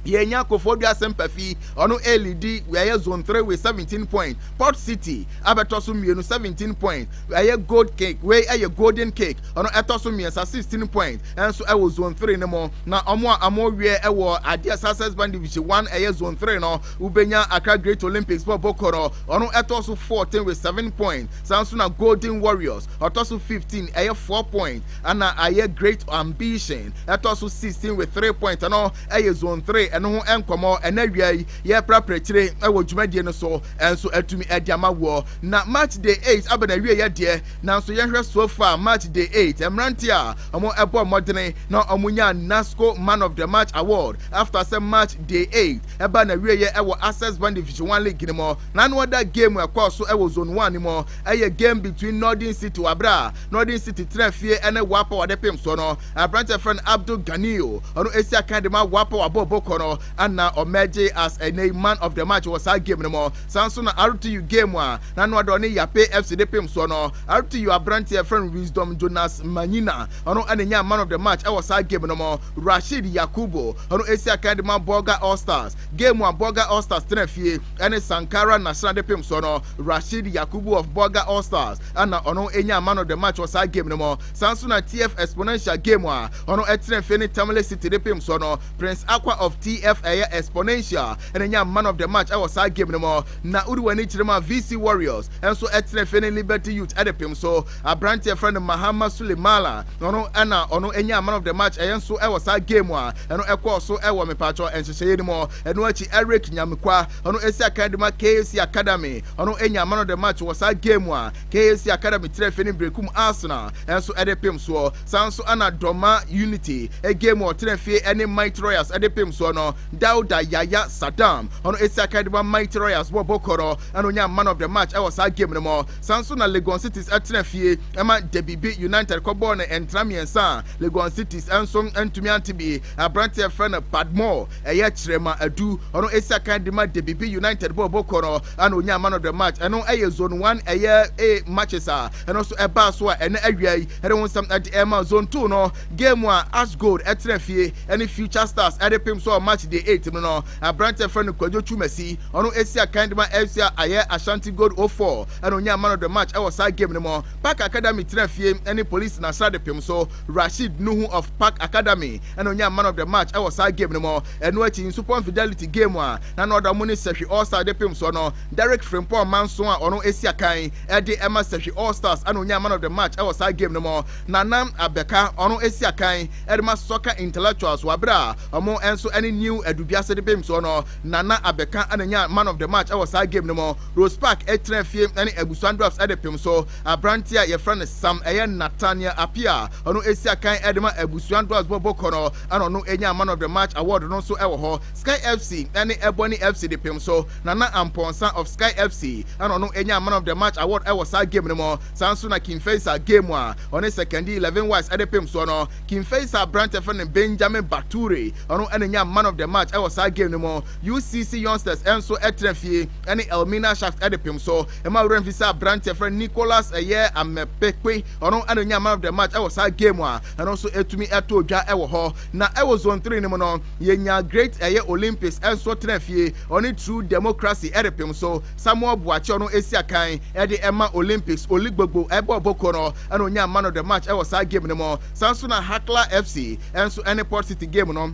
yɛnya Kofoɔ Duasempa fi ɔno ɛlidi ɛyɛ zone three with seventeen points port city abɛtɔ so mmienu seventeen point ɛyɛ gold cake wei ɛyɛ golden cake ɔno ɛtɔ so mmiɛnsa sixteen point ɛnso ɛwɔ zone three no mu na wɔn a wɔn wiɛ ɛwɔ adeɛ success bank division one ɛyɛ zone three no wobɛnya akra great olympics bɔ bɔkɔ no ɔno ɛtɔ so fourteen with seven point saa nso na golden warriors ɔtɔ so fifteen ɛyɛ four point ɛna ayɛ great ambition ɛtɔ so sixteen with three point ɛno ɛyɛ zone three ɛno ho ɛnkɔmɔ ɛna wia yi Yɛreprapra akyire wɔ dwumadie no so nso atumi de ama woɔ. Na March day eight aba n'awieeɛ deɛ, nanso yɛnhwɛ so far March day eight mmeranteɛ a wɔbɔɔ mmɔdene na wɔnyaa NASCO Man of the March Award after sɛ March day eight ɛbaa n'awieeɛ wɔ Access Bank Division One League no mu. Na ano ada game a ɛkɔɔ so wɔ Zone One no mu ɛyɛ game between Northern City wɔ aberɛ a Northern City tena fie ne Waapa wɔde pem soɔ no. Aberanteɛ a yɛfrɛ no Abdul Ganiyu ɔno ɛsi akan de ma Waapa wabɔ bɔkɔ no. Ɛna ɔmɛgye as ɛnɛyi man of the match wɔ saa game no mu. Saa nso na RTU game a na no adɔ ne Yape FC de pem soɔ no. RTU abranteɛ yɛfrɛ no Wisdom Jonas Manyina ɔno ɛna nyaa man of the match ɛwɔ saa game no mu. Rasheed Yakubu ɔno ɛsi akan de ma Bolga All Stars. Game a Bolga All Stars tena fie ɛne Sankara Nasra de pem soɔ no, Rasheed Yakubu of Bolga All Stars ɛna ɔno ɛnyaa man of the match wɔ saa game no mu. Saa nso na TF Exponential game a ɔno ɛtena fie ne Tamale City de pem soɔ no. Prince Akwa of TF ɛyɛ Exponential ɛna nyaa man of the match ɛwɔ saa game no mu. Na wode w'ani kyerɛ mu a VC Warriors ɛnso ɛtena afie ne Liberty Youth ɛde pem so aberanteɛ ɛfrɛ no Mahama Sule Mala ɔno ɛna ɔno ɛnyaa man of the match ɛyɛ nso ɛwɔ saa game a ɛno ɛkɔɔ so ɛwɔ mepaatwɔ nhyehyɛeɛ no mu. Ɛno akyi Eric Nyamekwa ɔno ɛsi akan de ma KAC Academy ɔno ɛnyaa man of the match wɔ saa game a KAC Academy tena afie ne Berekum Arsenal ɛnso ɛde pem soɔ. Saa nso na Dorma Unity game wɔ ɔtena fie ɛne Mighty Royals ɛde pem soɔ no. Dauda Yaya Saddam ɔno ɛsi akan de ma Mighty Royals bɔ bɔkɔ no ɛna ɔnya man of the match ɛwɔ saa game no mu. Saa nso na Legon Cities ɛtena fie ɛma Debibi United kɔ bɔɔ no ntra mmiɛnsa a Legon Cities ɛnso ɛntumi ante bi. Abranteɛ ɛfrɛ no Padmore ɛyɛ Kyerema Adu ɔno ɛsi akan de ma Debibi United bɔɔ bɔkɔ no. ɛna onyaa man of the match ɛno ɛyɛ zone one ɛyɛ a matches a ɛno nso ɛbaa so a ɛnɛ awia yi ɛde ho nsɛm ɛde ɛma zone two no game a as gold ɛtena fie ɛne future stars ɛde pem so match day eight mu no aberante fɛ no kwadwo twumasi ɔno esi akan de ma fc a ayɛ ashanti gold o oh four ɛna onyaa man of the match ɛwɔ saa game no mu park academy tena fie ɛne police nasra de pem so rashid nuhu of park academy ɛna onyaa man of the match ɛwɔ saa game no mu ɛno akyi nsupɔn fidelity game a Na na ɔda mu ne sahwi All Star de pem soɔ no, Derrick Frimpong Manson a ɔno asi akan de ma sahwi All Stars ɛna ɔnyaa Man of the Match ɛwɔ saa game no mu. Nana Abeka ɔno asi akan de ma Soccer Intellectuals wɔ abere a ɔmo nso ɛne New Adubiase de pem soɔ no, Nana Abeka ɛna nyaa Man of the Match ɛwɔ saa game no mu. Rose Park ɛtena fie ɛne Abusua Dwarfs ɛde pem so aberanteɛ a yɛfrɛ no Sam ɛyɛ Nathaniel Appiah a ɔno asi akan de ma Abusua Dwarfs bɔ bɔkɔ no ɛna ɔno nyaa Man of the Match award no nso ɛwɔ hɔ. Sky FC ne Ebony FC de pem so. Nana Amponsah of Sky FC na ɔno nyaa Man of the Match award wɔ saa game no mu. Saa nso na King Faisal game a ɔne Sekondi Eleven Wise de pem soɔ no. King Faisal aberante frɛ no Benjamin Bature ɔno na nyaa Man of the Match wɔ saa game no mu. UCC Youngsters nso tra fie ne Elmina Sharks de pem so. Ɛma wo werɛ mfi sɛ aberante frɛ no Nicholas ɛyɛ Amepekpe ɔno na ɔnyaa Man of the Match wɔ saa game a ɛno nso ɛtumi tɔɔ dwa wɔ hɔ. Na ɛwɔ Zone Three no mu no, Yɛnyaa Great ɛyɛ Olympics nso tena fie, ɔne True Democracy repem so. Samuel Boakye ɔno si akan de ma Olympics, Oli Gbogbo bɔ ɔbɔ kuo no ɛna ɔnyaa Man of the Match wɔ saa game no mu. Saa nso na Hakla FC nso ne Port City game no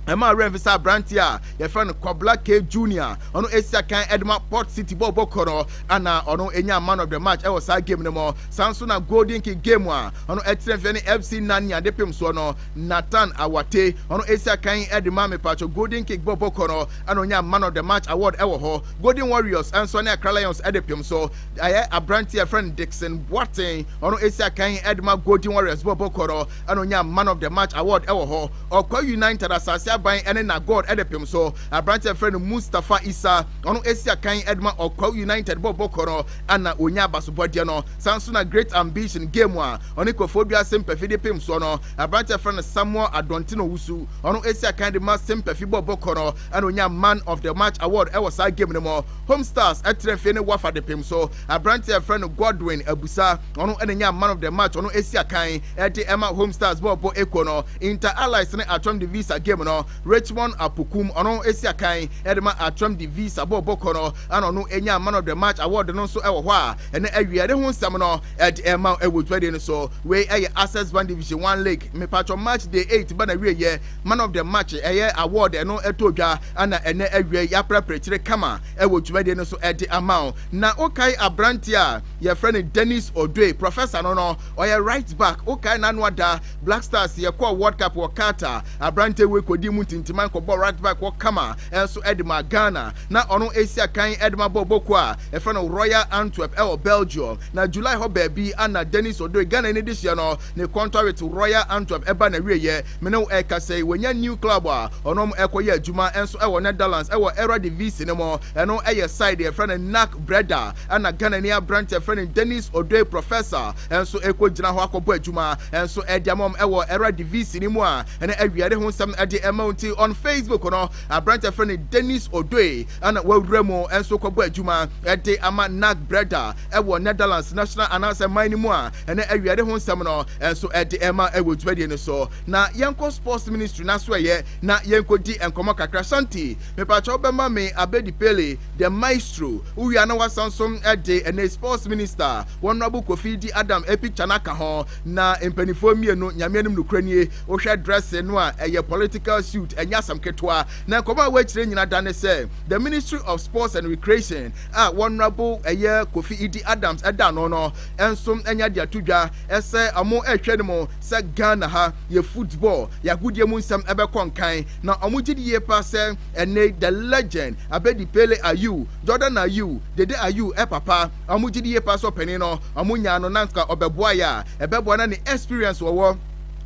ɛmaa werɛ mfi sɛ aberanteɛ a yɛfrɛ no Kwabla K Junior ɔno si akan de ma Port City bɔ ɔbɔ kuo no ɛna ɔno nyaa Man of the Match wɔ saa game no mu. Saa nso na Golden Kick game a ɔno tena fie ne FC Nanya de pem soɔ no. Nathan Awate, ɔno esi akan de maa me paatwo Golden Kick bɔ bɔkɔ no ɛna onyaa Man of the Match award ɛwɔ hɔ. Golden Warriors nso ɛne Accra Lions ɛde pem so. Ɛyɛ abranteɛ yɛfrɛ no Dickson Boateng, ɔno esi akan de ma Golden Warriors bɔ bɔkɔ no ɛna onyaa Man of the Match award ɛwɔ hɔ. Ɔkwa United Asase Aban ɛne Na God ɛde pem so. Abranteɛ yɛfrɛ no Mustafa Issa, ɔno esi akan de ma Ɔkwa United bɔ bɔkɔ no ɛna onyaa abasobɔdeɛ no. Saa nso na Great Ambition game a Ɔno nkorɔfoɔ wiase mpafi de pem soɔ no, aberanteɛ a yɛfrɛ no Samuel Adɔnten Owusu, ɔno ɛsi akan de ma se mpafi bɔ bɔkɔ no ɛna ɔnyaa Man of the Match Award ɛwɔ saa game no mu. Home Stars ɛtra nfie ne Wafa de pem so, aberanteɛ a yɛfrɛ no Godwin Abusa, ɔno ɛna nyaa Man of the Match, ɔno ɛsi akan ɛde ɛma Home Stars bɔ bɔ ɛkuo no. Inter Allies ne Atram Divisa game no, Richmond Apokum, ɔno ɛsi akan ɛde ma Atram Divisa bɔ bɔkɔ no ɛna ɔno ɛnyaa Man of the Match Award no nso ɛwɔ hɔ a ɛnɛ awieɛ ne ho nsɛm no. ɛde ɛma ɛwɔ dwumadie no so wei ɛyɛ access bank division one league mepatwɔ march day eight ba na wie yɛ man of the match ɛyɛ award ɛno ɛtɔ dwa ɛna ɛnɛ awie yɛaprapra kyire kama ɛwɔ dwumadie no so ɛde ama o na wokae aberante a yɛfrɛ no dennis odoe professor no no ɔyɛ right back wokae n'ano ada black stars yɛkɔɔ world cup wɔ qatar aberante wei kɔdi mu ntintiman kɔbɔ right back wɔ kama ɛnso ɛde ma ghana Na ɔno esi akan de ma bɔ bɔkuo a yɛfrɛ no Royal Antwerp wɔ Belgium. Na July hɔ baabi na Dennis Odoi, Ghanani dehyeɛ no, ne kɔntɔwit Royal Antwerp ba na wieɛ. Me ne wo ɛrekasa yi, wanya new club a ɔno ɛrekɔyɛ adwuma nso wɔ Netherlands wɔ Eredivisie no mu. Ɛno yɛ side yɛfrɛ no NAC Breda na Ghanani aberanteɛ yɛfrɛ no Dennis Odoi Professor nso ɛrekɔgyina hɔ akɔbɔ adwuma nso de ama wɔn wɔ Eredivisie no mu a ɛnɛ awia de ho nsɛm de rema wo. Nti on Facebook no, Aberante a wɔfrɛ no Dennis Odoi a na wawura mu nso kɔbɔ adwuma de ama Naak Breda wɔ Netherlands national anaasɛ man no mu a ɛnɛ awiade ho nsɛm no nso de rema wɔ dwumadie no so. Na yɛnkɔ sports ministry no asoɛeɛ na yɛnkɔdi nkɔmmɔ kakra. Shanti, mepaakyɛ wobɛma me Abedi Pele, the maestro, wowia na wasan so de ɛnɛ sports minister, Honourable Kofi Di Adam picture no aka ho. Na mpaninfoɔ mmienu nyame anim nokorɛ nie wohwɛ dress no a ɛyɛ political suit ɛnyɛ asɛm ketewa na nkɔmɔ a wɔakyerɛ nyina da ne sɛ the ministry of sports and recreation a wɔnrabo ɛyɛ kofi idi adams ɛda ano no nso ɛnya de ato dwa ɛsɛ ɔmo ɛhwɛ no mu sɛ ghana ha yɛ football yɛ agodie mu nsɛm ɛbɛkɔ nkan na ɔmo gye di yie paa sɛ ɛnɛ the legend abedi pele ayew jordan ayew dede ayew ɛpapa Ɔmo gyedi yie paa sɛ ɔpanin no ɔmo nyaa no na nka ɔbɛboa yɛ a ɛbɛboa na ne experience wɔwɔ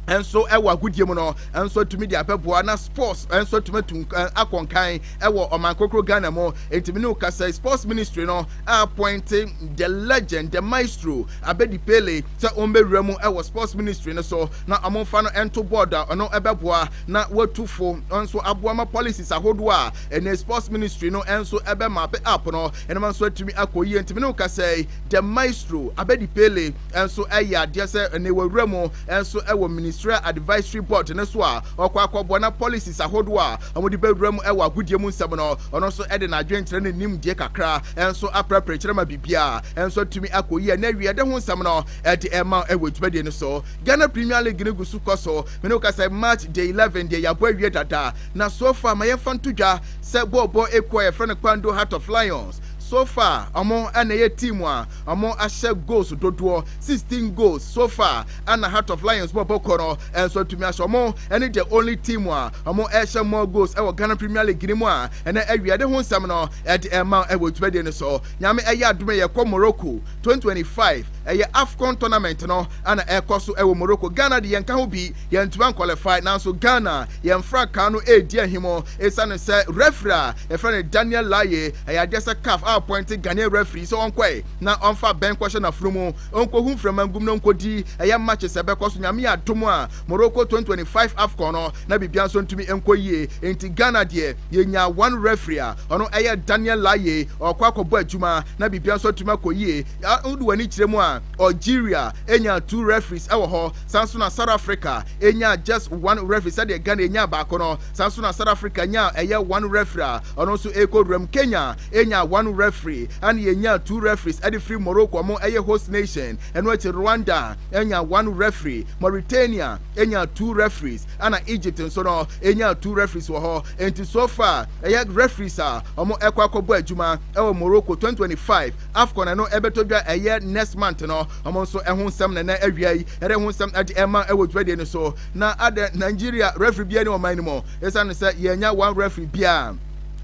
nso ɛwɔ agodie mu no nso atumi de abɛboa na sports nso atumi atu akɔ nkan ɛwɔ ɔman kokoro Ghana mu ntumi ne okasa sports ministry no appointe the legend the maestro Abedi Pele sɛ ɔmbɛwura mu ɛwɔ sports ministry no so na ɔmomfa no ɛnto board a ɔno ɛbɛboa na watu fo nso aboa ma policies ahodoɔ a Ɛnɛ sports ministry no nso ɛbɛma pɛ app no ɛnama nso atumi akɔ yie ntumi ne wo kasa yi the maestro abɛdi pele nso ɛyɛ adeɛ sɛ ɛnɛ wɔwura mu nso ɛwɔ ministerial advisory board no so a ɔkɔ akɔboa na policies ahodoɔ a wɔde bɛwura mu ɛwɔ agodie mu nsɛm no ɔno nso ɛde n'adwenkyerɛ ne nimdeɛ kakra nso aprapra kyerɛ ma biribiara nso atumi akɔ yie ɛnɛ wie ɛde ho nsɛm no ɛde ɛma ɛwɔ adwumadie no so Ghana Premier League no gu so kɔ so mene wo kasa March day 11 deɛ yɛabɔ awie dada Na so far ma yɛmfa nto dwa sɛ bɔɔl bɔ ekuo a yɛfrɛ no Kpando Heart of Lions, so far wɔn na ɛyɛ team a wɔn ahyɛ goals dodoɔ, sixteen goals so far, ɛna Heart of Lions bɔɔl bɔ kuo no nso atumi ahyɛ, wɔn ne the only team a wɔn ɛhyɛ more goals ɛwɔ Ghana Premier League no mu a ɛnɛ awia de ho nsɛm no ɛde ɛma wo ɛwɔ dwumadie no so. Nyame ɛyɛ adom a yɛkɔ Morocco twenty twenty five, ɛyɛ Afcon tournament no ɛna ɛkɔ so ɛwɔ Morocco, Ghana de yɛnka ho bi, Yɛantumi ankwalifai nanso Ghana yɛn frankaa no redi ahim esiane sɛ referee a yɛfrɛ no Daniel Laye ɛyɛ adeɛ sɛ caf a appointe Ghanaian referee sɛ ɔnkɔɛ na ɔmfa abɛn nkɔhyɛ n'afono mu ɔnkɔhu mframa ngum na ɔnkɔdi ɛyɛ matches a ɛbɛkɔ so Nyame adom a Morocco 2025 Afcon no na biribiara nso ntumi nkɔ yie enti Ghana deɛ yɛnyaa one referee a ɔno ɛyɛ Daniel Laye ɔkɔ akɔbɔ adwuma na biribiara nso atumi akɔ yie wode w'ani kyerɛ mu a Algeria nyaa two referees ɛwɔ hɔ Saa nso na South Africa nyaa just one referee sɛdeɛ Ghana nyaa baako no. Saa nso na South Africa nyaa ɛyɛ one referee a ɔno nso ɛkɔ wuram. Kenya nyaa one referee ɛna yɛnyaa two referees ɛde firi Morocco ɔmo ɛyɛ host nation. Ɛno akyi Rwanda nyaa one referee, Mauritania nyaa two referees ɛna Egypt nso no nyaa two referees wɔ hɔ. Enti so far ɛyɛ referees a ɔmo ɛkɔ akɔbɔ adwuma ɛwɔ Morocco 2025 Afcon ɛno ɛbɛtɔ dwa ɛyɛ next month no. Wɔn nso ho nsɛm na na awia yi yɛde ho nsɛm de ɛma wɔ dwumadie no so. Na adɛ Nigeria referee biara ne ɔman no mu ɛsiane sɛ yɛanya one referee biara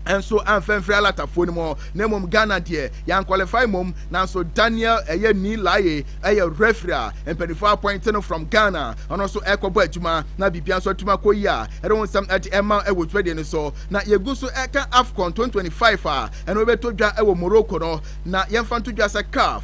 nso amfa mfiri alatafoɔ no mu na mmom Ghana deɛ yɛn qualify mmom nanso Daniel ɛyɛ ni laye ɛyɛ referee a mpanimfoɔ appoint no from Ghana ɔno nso ɛkɔbɔ adwuma na biribiara nso atuma kɔ yi a ɛde ho nsɛm de ɛma wɔ dwumadie no so na yɛgu so ɛka AFCON 2025 a ɛno ɛbɛtɔ dwa wɔ Morocco no na yɛmfa nto dwa sɛ CAF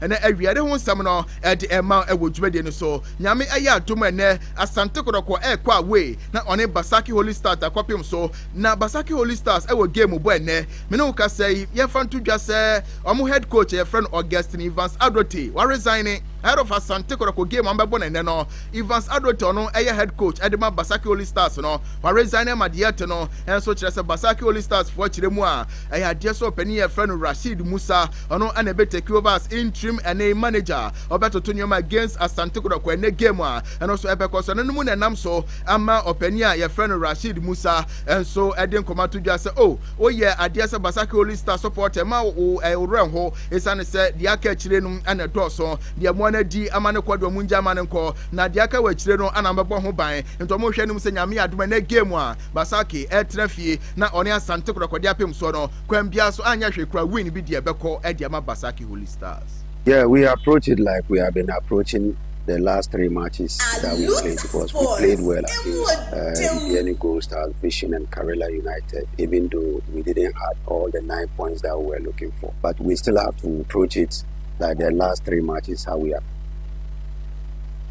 Ɛnɛ awia de ho nsɛm no ɛde ɛma ɛwɔ dwumadie no so. Nyame ayɛ adom ɛnɛ Asante Kɔdɔkɔ ɛrekɔ away na ɔne Basaki Holy Stars akɔpem so. Na Basaki Holy Stars ɛwɔ game bɔ ɛnɛ. Me ne wo kasa yi yɛmfa nto dwa sɛ wɔn head coach a yɛfrɛ no Augustine Evans Adote wa resign ahead of Asante Kɔdɔkɔ game a wɔbɛbɔ no ɛnɛ no. Evans Adote ɔno ɛyɛ head coach ɛde ma Basaki Holy Stars no wa resign ɛma deɛ ɛte no ɛnso kyerɛ sɛ Basaki Holy Stars foɔ kyerɛ mu a ɛyɛ adeɛ sɛ ɔpanin yɛfrɛ no Rasheed Musa Ɔno na ɛbɛ take over as interim ɛne manager. Ɔbɛtoto nneɛma against Asante Kotoko ɛnɛ game a ɛno nso ɛbɛkɔ so. Ɛno no mu na ɛnam so ama ɔpanin a yɛfrɛ no Rasheed Musa nso ɛde nkɔmɔ ato dwa sɛ o woyɛ adeɛ sɛ Basake Holy Star supporter ma wo ɛworɛ nho esiane sɛ deɛ aka akyire no ɛna ɛdɔɔso deɛ mo ana di ama no kɔ deɛ ɔmo ngya ama no nkɔ na deɛ aka wɔ akyire no ana mɛbɔ ho ban nti ɔmo hwɛ no mu sɛ nyame adom ɛnɛ game a Basake ɛtra fie na ɔne Asante Kotoko de apem soɔ no Kwan biara so anyɛ hwee koraa win bi deɛ bɛkɔ ɛde ama Basaki Holy Stars. Yeah we approach it like we have been approaching the last three matches that we played because we played well against uh, Ribiani Gold Stars, Vision and Karela United even though we didn't have all the nine points that we were looking for but we still have to approach it like the last three matches how we have.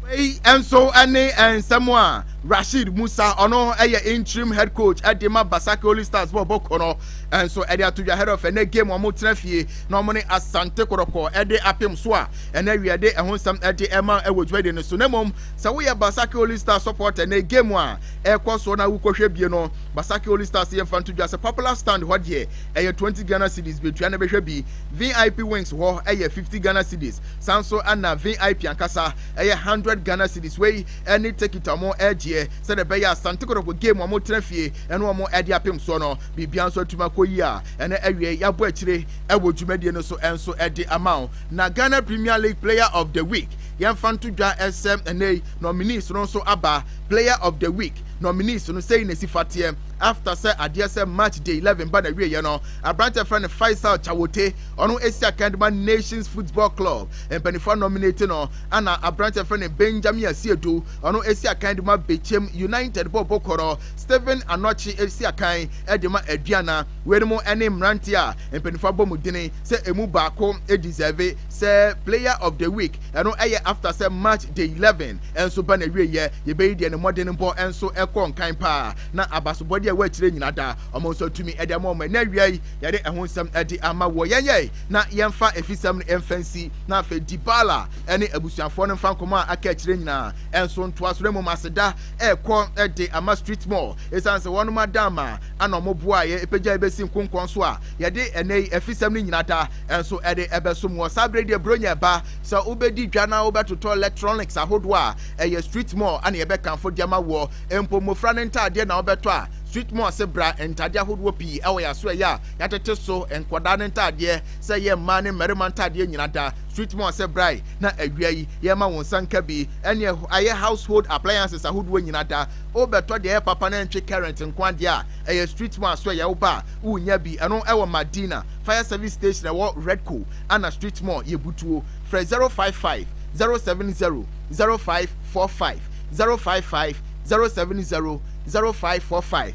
Wei nso ɛne nsɛm a Rasheed Musa ɔno ɛyɛ interim head coach ɛde ma Basake Holy Stars bɔ ɔbɔ kɔ no ɛnso ɛde ato dwa head of ɛnɛ game wɔn tena fie na wɔn ne Asante Kɔrɔkɔ ɛde apem so a ɛnɛ awia de ɛho nsɛm ɛde ɛma ɛwɔ dwumadi no so na mmom sɛ woyɛ Basake Holy Stars support ɛnɛ game a ɛkɔ so na wokɔhwɛ bie no Basake Holy Stars yɛ mfa nto dwa sɛ popular stand hɔ deɛ ɛyɛ 20 Ghana cedis betua na bɛhwɛ bi VIP wings hɔ ɛyɛ 50 Ghana cedis san so ɛna VIP ankasa ɛyɛ 100 Ghana cedis wei ne Tekita wɔn agyeɛ sɛdeɛ ɛbɛyɛ a Asante Kɔtɔkɔ game wɔn tena fie ɛne wɔn ɛde apem soɔ no biribiara nso atumi akɔ yie a ɛnɛ awie yɛabɔ akyire ɛwɔ dwumadie no so ɛnso ɛde ama wo na Ghana Premier League Player of the Week yɛmfa nto dwa ɛsɛ ɛnɛ yi nominees no nso aba Player of the Week nominees no sɛi na ɛsi fateɛ after sɛ adeɛ sɛ match day 11 ba na wieɛ no aberante frɛ no Faisal Chawote ɔno ɛsi akan de ma Nations Football Club mpanimfoɔ nominate no Ana aberantsɛ a wɔfrɛ no Benjamin Asiedu, ɔno esi akan dze ma Bechem United bɔɔlbɔ kor, Stephen Anokye esi akan dze ma Aduana. Weinom ne mberantsɛ a mpanyimfo abɔ mu dzin sɛ emu baako deserve sɛ Player of the Week, ɛno yɛ after sɛ match day eleven nso ba n'ewieyɛ. Yɛbɛyi deɛ ne mmɔdenbɔ nso kɔɔ nkan paa na abasobɔdeɛ a wɔakyerɛ nyina da wɔn nso atumi de ama wɔn. Ɛnnɛ awia yi, yɛde ɛho nsɛm de ama woɔ. Yɛnyɛ na yɛmfa afisɛm no mfa nsi, na afei Dibala ne abusuafoɔ no mfa nkɔmmɔ a aka akyire nyinaa nso ntoa so, na mmom aseda rekɔ de ama Street Mall, ɛsiane sɛ wɔnom ada ama ana wɔn boaa yɛn ɛpagya yɛn bɛsi nkonkɔn so a yɛde ɛnɛ yi afisɛm no nyina da nso ɛde ɛbɛsom wɔ saa berɛ deɛ Buronya ɛba sɛ wobɛdi dwa na wobɛtotɔ electronics ahodoɔ a ɛyɛ Street Mall ana yɛbɛkanfo de ama woɔ mpo mmɔfra no ntaadeɛ na wobɛtɔ a Street Mall se bra ntadeɛ ahodoɔ pii ɛwɔ yɛaso ɛyɛ a Yɛatete so nkwadaa no ntaadeɛ sɛ ɛyɛ mmaa ne mmarima ntaadeɛ nyina da. Sweet Moa sɛ brae na awia yi yɛma wo nsa nka bi ɛne ayɛ household appliances ahodoɔ nyina da. Wobɛtɔ deɛ ɛyɛ papa na ɛntwe current nko adeɛ a, ɛyɛ Sweet Moa so ɛyɛ wo ba a wonya bi. Ɛno ɛwɔ Madina fire service station ɛwɔ Redco ana Sweet Moa yɛ butuo. Frɛ 055 070 0545, 055 070 0545.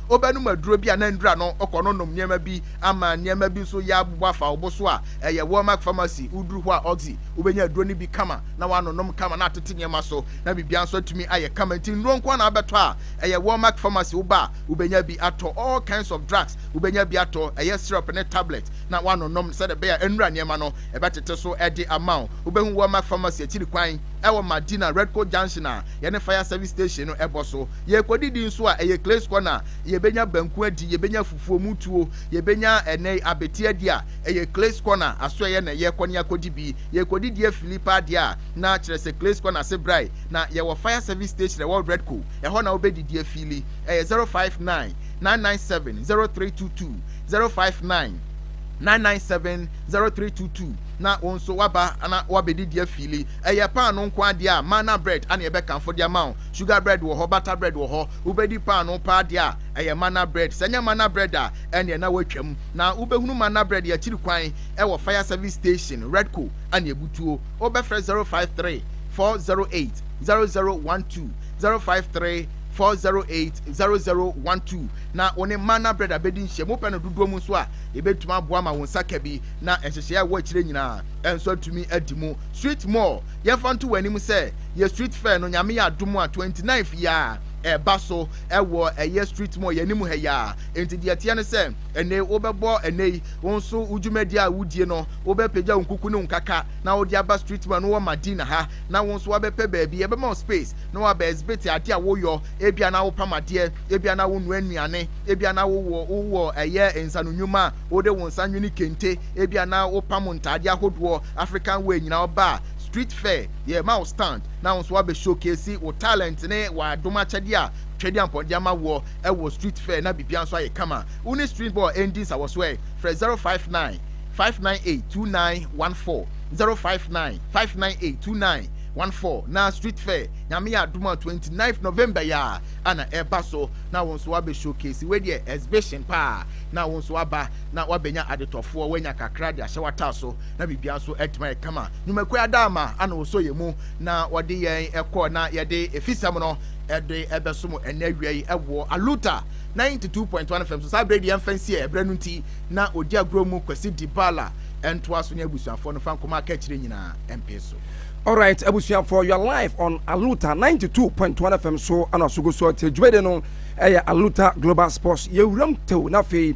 Wobɛnom aduro bi a na nnura no kɔ no nom nneɛma bi ama nneɛma bi nso yɛ abobɔ afa wo bo so a ɛyɛ Walmark Pharmacy. Woduru hɔ a Oxy, wobɛnya aduro no bi kama na woanonom kama na atete nneɛma so na biribiara nso atumi ayɛ kama. Nti nnuro nko ara na wobɛtɔ a ɛyɛ Walmark Pharmacy. Woba a wobɛnya bi atɔ. All kinds of drugs wobɛnya bi atɔ, ɛyɛ syrup ne tablet na woanonom sɛdeɛ ɛbɛyɛ a nnura nneɛma no ɛbɛtete so de ama wo. Wobɛhu Walmark Pharmacy akyiri kwan wɔ Madina, Redco Junction a yɛne Fire Service Station no bɔ so. Yɛrekɔdidi nso a, ɛyɛ Clay's Corner, yɛbɛnya banku adi, yɛbɛnya fufuo mu tuo, yɛbɛnya ɛnɛ yi abete adi a, ɛyɛ Clay's Corner asoɛeɛ na yɛrekɔ ne akɔdi bi. Yɛrekɔdidi afili paa deɛ a, na kyerɛ sɛ Clay's Corner ase brae. Na yɛwɔ Fire Service Station a ɛwɔ Redco, ɛhɔ na wobɛdidi afili. Ɛyɛ 059 997 0322, 059 997 0322 na wo nso woaba na woabɛdidi afili. Ɛyɛ paano nko ara deɛ a, manna bread na yɛbɛkamfo de ama wo. Sugar bread wɔ hɔ, butter bread wɔ hɔ. Wobɛdi paanoo paa deɛ a, ɛyɛ manna bread. Sɛ ɛnyɛ manna bread a, ɛnneɛ na woatwam. Na wobɛhunu manna bread yɛ akyiri kwan wɔ fire service station, Redco, Aneabutuo. Wobɛfrɛ 053 408 0012, 053 408 0012, na wo ne manna bread abɛdi nhyiam. Wopɛ no dodoɔ mu nso a, yɛbɛtumi aboa ma wo nsa ka bi, na nhyehyɛeɛ a ɛwɔ akyire nyinaa nso atumi adi mu. Sweet More, yɛmfa nto w'anim sɛ, Yɛ street fair no nyame yɛ adom a 29th yi a ɛba so ɛwɔ ɛyɛ street mall yɛ anim ha yi a enti deɛ ɛteɛ no sɛ ɛnɛ wobɛbɔ ɛnɛ yi wo nso wo dwumadie a wodie no wobɛpagya wo nkuku ne wo nkaka na wode aba street mall no wɔ Madina ha na wo nso wabɛpɛ baabi yɛbɛma wo space na waba exhibit adeɛ a woyɔ ebia na wopam adeɛ ebia na wonoa nnuane ebia na wowɔ wowɔ ɛyɛ nsano nnwuma a wode wo nsa nwene kente ebia na wopam ntaadeɛ ahodoɔ African wear nyinaa ɔba a street fair Yɛma wo stand na wo nso woabɛ showcase wo talent ne w'adom akyɛdeɛ a Twedeampɔn de ama woɔ wɔ street fair na biribiara nso ayɛ kama. Wo ne street boy ɛndi nsawɔso ɛ? Frɛ 059 598 2914, 059 598 2914 na street fair Nyame yɛ adom a 29th November yi ara ana ɛreba so na wo nso woabɛ showcase wei deɛ exhibition paa na wo nso woaba na woabɛnya adetɔfoɔ woanya kakra de ahyɛ w'ataa so na biribiara nso atumi ayɛ kama. Nnwumakuo adaama ana wɔsɔ yɛn mu na wɔde yɛn kɔ na yɛde efisɛm no de ɛbɛsom ɛnɛ awia yi wɔ Aluta 92.1 FM so. Saa berɛ deɛ ɛmfa nsi ɛberɛ no nti na ɔdi agorɔ mu Kwasi Dibala ɛntoa so ne abusuafoɔ no fa nkɔmɔ aka akyire nyinaa ɛmpee so. Alright, abusuafoɔ, you are live on Aluta 92.1 FM so ɛna so gu so te dwumadi no ɛyɛ Aluta Global Sports yɛwuram tew na afei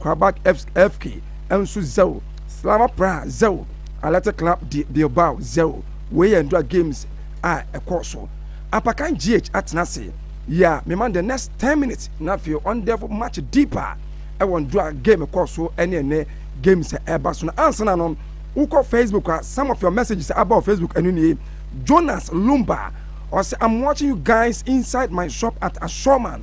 Krabak-Evsk-Evk nso 0, Slava Praha 0, Athletic Club de Bilbao 0. Wei yɛ Ndura games a ɛkɔɔ so. Apakan GH atena ase. Ya mema the next ten minutes na afei ɔn delve much deeper ɛwɔ Ndura game ɛkɔɔ so ɛne ɛnɛ games a ɛba so no. Ansa na no, wokɔ Facebook a, some of your messages a aba wɔ Facebook ɛno nie. Jonas Lumba, ɔse I'm watching you guys inside my shop at Ashorman.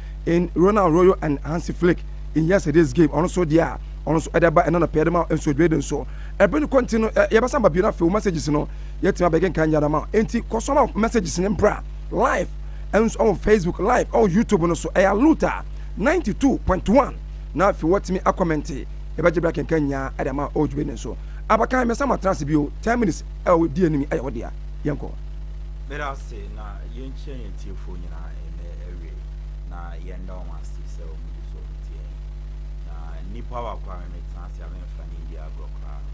in Ronald Arroyo and Hansi Flick in yesterday's game ɔno nso deɛ a ɔno nso ɛde ba ɛna nɔpɛ ɛde ma nso dwede nso ɛbɛn kɔ nti no yɛbɛsan ba bio no afei wo messages no yɛtumi abɛkenkan nyɛ dama nti kɔ so ma messages no mbra live ɛnso ɛwɔ Facebook live ɛwɔ YouTube no so ɛyɛ Luta 92.1 na afei wɔtumi akɔmɛnte yɛbɛgye bra kenkan nyinaa ɛde ma ɔwɔ dwede nso abakan mɛsan ma trans bio 10 minutes ɛwɔ di anim ɛyɛ wɔdea yɛnkɔ. Meda ase na yɛnkyia yɛn tiefoɔ nyinaa. ase na yɛnda wɔn ase sɛ wɔn gu so wɔn tie yɛn na nipa wa kora me me tena ase a memfa ne ndi agorɔ koraa no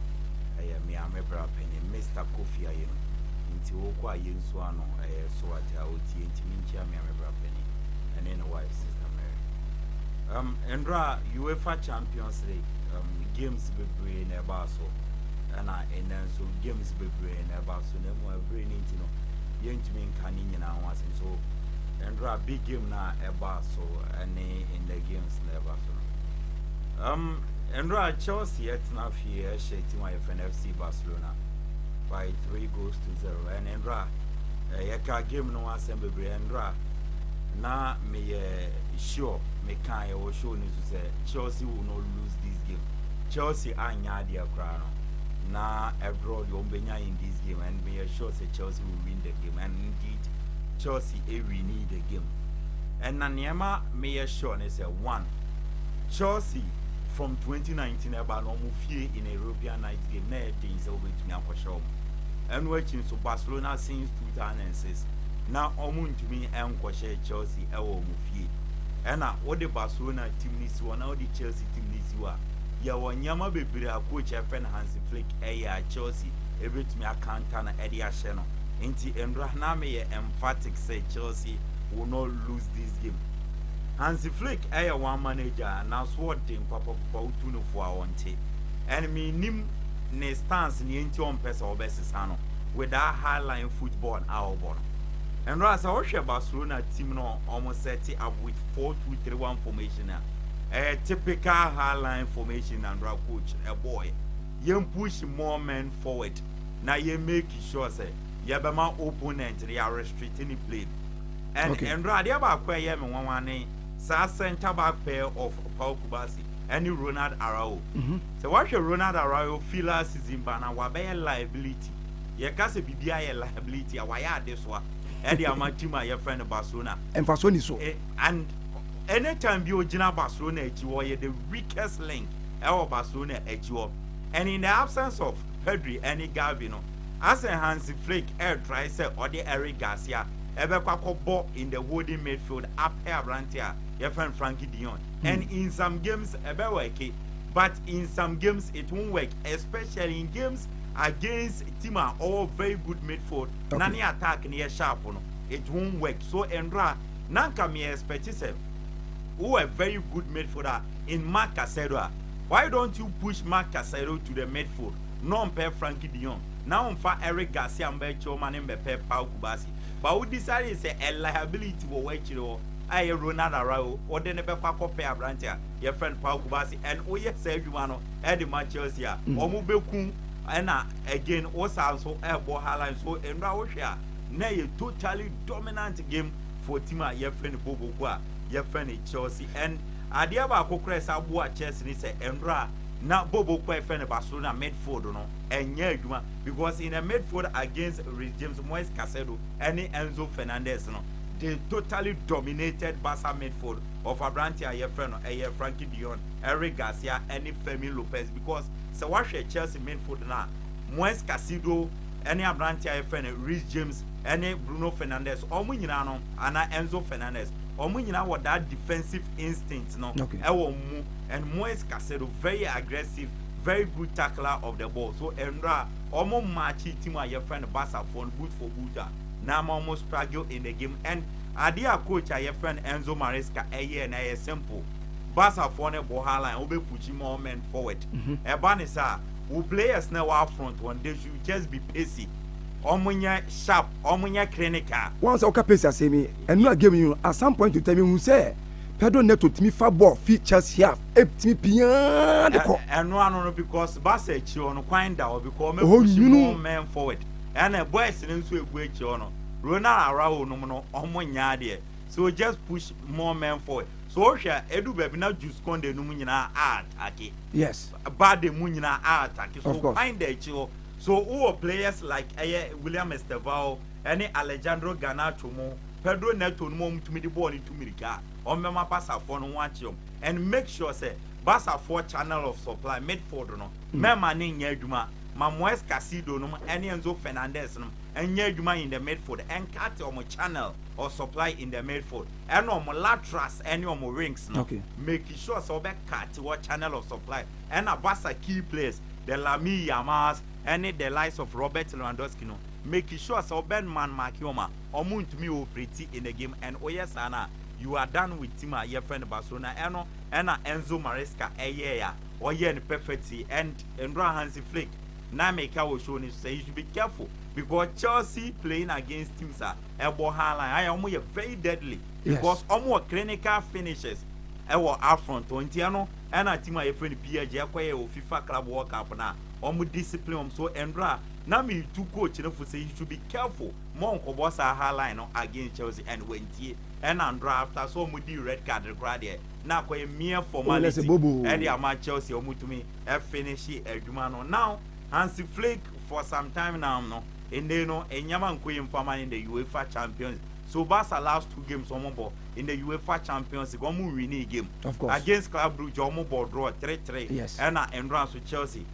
ɛyɛ me a me bra panyin Mr Kofi ayɛ no nti wokɔ a yɛnsu ano ɛyɛ so ate a ɔtie nti menkyia me a me bra panyin ɛne ne wife sister Mary um, ndora UEFA Champions League um, games bebree na ɛbaa so ɛna ɛnɛ nso games bebree na ɛbaa so na mu ɛbere ne nti no yɛntumi nka ne nyinaa ho asɛm so Ndra big game na ɛba so ɛne ndɛ games na ɛba so no. Um, Ndra Chelsea ɛtena fie ɛhyɛ team a yɛfrɛ no FC Barcelona by three goals to zero. Ɛne Ndra yɛka game no asɛm bebree Ndra na meyɛ sure meka yɛwɔ show no so sɛ Chelsea will not lose this game. Chelsea anya adeɛ koraa no na ɛdrɔ deɛ wɔn bɛnya in this game and meyɛ sure sɛ Chelsea will win the game and Chelsea awi ne the game ɛna nea ɛma meyɛ sure ne sɛ one Chelsea from 2019 ɛba no ɔmo fie in a European night game na ɛden sɛ wobɛtumi akɔhyɛ ɔmo ɛno akyi nso Barcelona since 2006 na ɔmo ntumi ɛnkɔhyɛ Chelsea ɛwɔ ɔmo fie ɛna wode Barcelona team no si hɔ na wode Chelsea team no si hɔ a yɛwɔ nneɛma bebree a coach ɛfɛ no Hansi Flick ɛyɛ a Chelsea ɛbɛtumi akanta no ɛde ahyɛ no Enti ndora na me yɛ emphatic sɛ Chelsea will not lose this game. Hansi Flick yɛ one man agya a n'aso ɔde nkwapakupa wotu no fo a ɔnte. And me nnim ne stance nea enti ɔmpɛ sɛ ɔbɛsesa no with that high line football a ɔbɔ no. Ndora sɛ wohwɛ Barcelona team no ɔmo set up with 4-2-3-1 formation a, ɛyɛ typical high line formation na ndora coach ɛbɔɔɛ. Yɛn push more men forward. na yɛ make sure sɛ yɛbɛma opponent no yɛ restrict ne plane and okay. ɛnora adeɛ baako a ɛyɛ me nwanwa ne saa center back pair of Paul Kubasi ɛne Ronald Arao mm -hmm. sɛ wahwɛ Ronald Arao fi last season ba na wabɛyɛ liability yɛka sɛ biribi ayɛ liability a wayɛ adesoa ɛde ama team a yɛfrɛ no Barcelona mfasoɔ ni so eh, and anytime bi ogyina Barcelona akyi hɔ ɔyɛ the weakest link ɛwɔ Barcelona akyi hɔ and in the absence of Pedri ne Gavi no, asɛ Hansi Flick retrae sɛ ɔde Eric Garcia bɛkɔ akɔbɔ in the holding midfield apɛ aberante a yɛfrɛ no Frankie de Jong and in some games ɛbɛwɛke but in some games it won't work especially in games against team a ɔwɔ very good midfield na ne attack no yɛ sharp no it won't work so Ndra na nka me expect sɛ wowɔ a very good midfield a in Marc Caicedo a Why don't you push Marc Casseiro to the midfield na ɔmpɛ Frankie de Jong na ɔmfa Eric Garcia mbɔ akyire hɔ ma no mbɛpɛ Paul Kubasi but wo decidee sɛ a liability wɔ w'akyire hɔ a ɛyɛ Ronald Araujo wode no bɛkɔ akɔpɛ aberanteɛ a yɛfrɛ no Paul Kubasi and woyɛ saa adwuma no de ma Chelsea a wɔn bɛku ɛna again wo saa nso ɛbɔ Haaland so nnora wohwɛ a na ɛyɛ totally dominant game for team a yɛfrɛ no Bobo ko a yɛfrɛ no Chelsea and Adeɛ baako koraa a ɛsan boa chess ne sɛ ɛnora a na Bobo kɔ a yɛfrɛ no Barcelona midfield no nyɛ adwuma because in the midfield against Reece James, Moise Casedo ne Enzo Fernandez no they totally dominated Barca midfield of aberanteɛ a yɛfrɛ no ɛyɛ Frankie de Jong, Eric Garcia ne Fermin Lopez because sɛ woahwɛ Chelsea midfield no a Moise Casedo ne aberanteɛ a yɛfrɛ no Reece James ne Bruno Fernandez wɔn nyinaa no anaa Enzo Fernandez wɔn nyinaa wɔ that defensive instinct no ɛwɔ wɔn mu and Moise Caicedo very aggressive very good tackler of the ball so ɛnora wɔn mmaakye team a yɛfrɛ no Basafoɔ no boot for boot a na ama wɔn struggle in the game and adeɛ a coach a yɛfrɛ no Enzo Maresca ɛyɛ na ɛyɛ simple Basafoɔ no bɔ high line wɔbɛ pushi more men forward ɛba ne saa wo players na wɔ front wɔn they should just be pacey wɔn nyɛ sharp wɔn nyɛ clinical. wɔn sɛ ɔka pacey asɛm yi. Ɛno a game yi no at some point to time mehu sɛ Pedro Neto tumi fa bɔɔl fi Chelsea half ɛtumi piaa de kɔ. Ɛno ano no because Barca akyire hɔ no kwan da hɔ because wɔn apushi more men forward ɛna boys no nso ɛgu akyire hɔ no Ronald Araujo nom no wɔn nyɛ adeɛ so just push more men forward so wohwɛ a ɛdu baabi na Jules Koundé nom nyinaa a attacke yes Balde mu nyinaa a attacke so kwan da akyire hɔ so wowɔ players like ɛyɛ William Estevao ne Alejandro Garnacho mo Pedro Neto no mo a wɔn tumi de bɔɔl no tu mirika a wɔn bɛma Barca foɔ no ho akye wɔn and make sure sɛ Barca foɔ channel of supply midfield no mɛma no nyɛ adwuma ma Moes Casido nom ne Enzo Fernandez nom nyɛ adwuma in the midfield ɛnkate wɔn channel of supply in the midfield ɛna wɔn laterals ne wɔn wings no okay. make sure sɛ wɔbɛkate wɔ channel of supply ɛna Barca key players the Lamine Yamals ne the likes of Robert Lewandowski no Make sure sɛ wo bɛn man mark wɔn a wɔn ntumi operate in the game and wo yɛ saa no a you are done with team a yɛfrɛ no Barcelona ɛno ɛna Enzo Maresca ɛyɛɛ a ɔyɛɛ no perfectly and nnora Hansi Flick na meka wɔ show no so sɛ you should be careful because Chelsea playing against teams a ɛbɔ high line ayɛ wɔn yɛ very deadly because wɔn wɔ clinical finishers ɛwɔ upfront wɔn nti ɛno ɛna team a yɛfrɛ no PSG ɛkɔyɛ wɔ FIFA Club World Cup no a wɔn discipline wɔn so nnora Na metu coach no fo sɛ he should be careful mma ɔnkɔbɔ saa high line no against Chelsea and wantie ɛna ndora after sɛ ɔmo dii red card no koraa deɛ na akɔyɛ mere formality ɛde ama Chelsea a ɔmo tumi ɛfinishe adwuma no now Hansi Flick for some time now no nnɛyi no nneɛma nkɔ yie mfa ma no in the UEFA Champions so Barca last two games ɔmo bɔ in the UEFA Champions League ɔmo nwinii game against Club Brugge ɔmo bɔ draw three three ɛna ndora nso Chelsea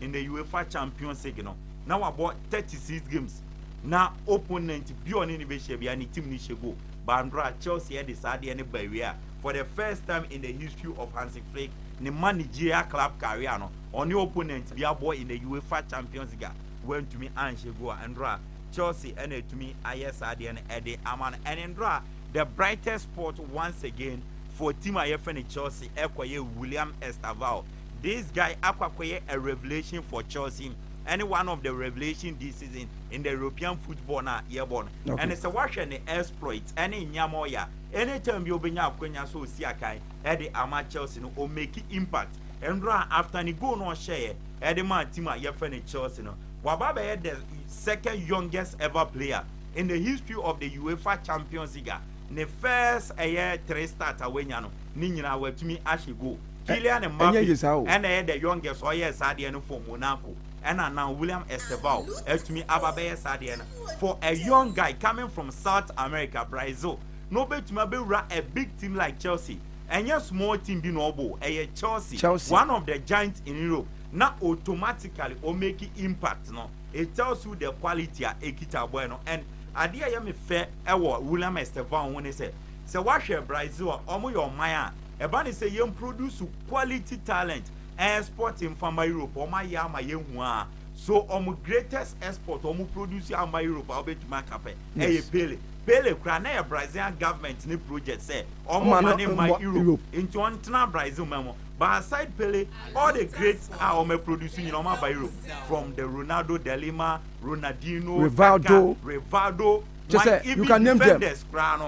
Ndɛ UEFA Champions League no, na ɔabɔ thirty six games na opponent bi a ɔnye no behyia biara ne team no hyɛ goal. But mber a Chelsea dze saa adeɛ no baa ewiei a, for the first time in the history of Hansi Flick ne manegyiria club career no, ɔnye opponent bi abɔ in the UEFA Champions League a oenntumii annhyɛ goal a ndora Chelsea na etumii ayɛ saa adeɛ no dze ama no and ndora the brightest spot once again for team a yɛfrɛ no Chelsea kɔyɛ William Estavao This guy akɔ akɔyɛ a revelation for Chelsea ɛne one of the revelation this season in the European football na yɛbɔ no ɛne sɛ wahwɛ ne exploit ɛne nneɛma ɔyɛ a anytime bi obɛnya akwanya sɛ ɔsi akan ɛde ama Chelsea no o make impact ɛnora after ne goal no ɔhyɛeɛ ɛde maa team a yɛfɛ ne Chelsea no waba bɛyɛ the second youngest ever player in the history of the UEFA Champions League ne first ɛyɛ three start a wanya no ne nyinaa watumi ahyɛ goal Kylian Mbappe na ɛyɛ the youngest a ɔyɛɛ saa adeɛ no for Monaco ɛna now William Estevao atumi aba bɛyɛ saa adeɛ no for a young guy coming from South America Brazil na ɔbɛtumi abɛwura a big team like Chelsea ɛnyɛ small team bi na ɔbɔ ɛyɛ Chelsea, Chelsea one of the giants in Europe na automatically o make impact no it tells you the quality a ɛkita abɔɛ no and adeɛ a ɛyɛ me fɛ ɛwɔ William Estevao ho ne sɛ Sɛ woahwɛ Brazil a, wɔyɛ ɔman a ɛba ne sɛ yɛn produce quality talent export mfa mma Europe, wɔn ayɛ ama yɛahu a, so wɔn greatest export wɔn produce amma Europe a wobɛtumi aka pɛ, ɛyɛ Pele. Pele koraa na ɛyɛ Brazilian government ne project sɛ wɔn ma ne mma Europe nti wɔn ntena Brazil man mu, but aside Pele, all the great a wɔn produce nyina wɔn aba Europe from the Ronaldo, Delima, Ronaldinho, Kaka, Rivaldo. kyɛ sɛ you can name them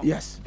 yes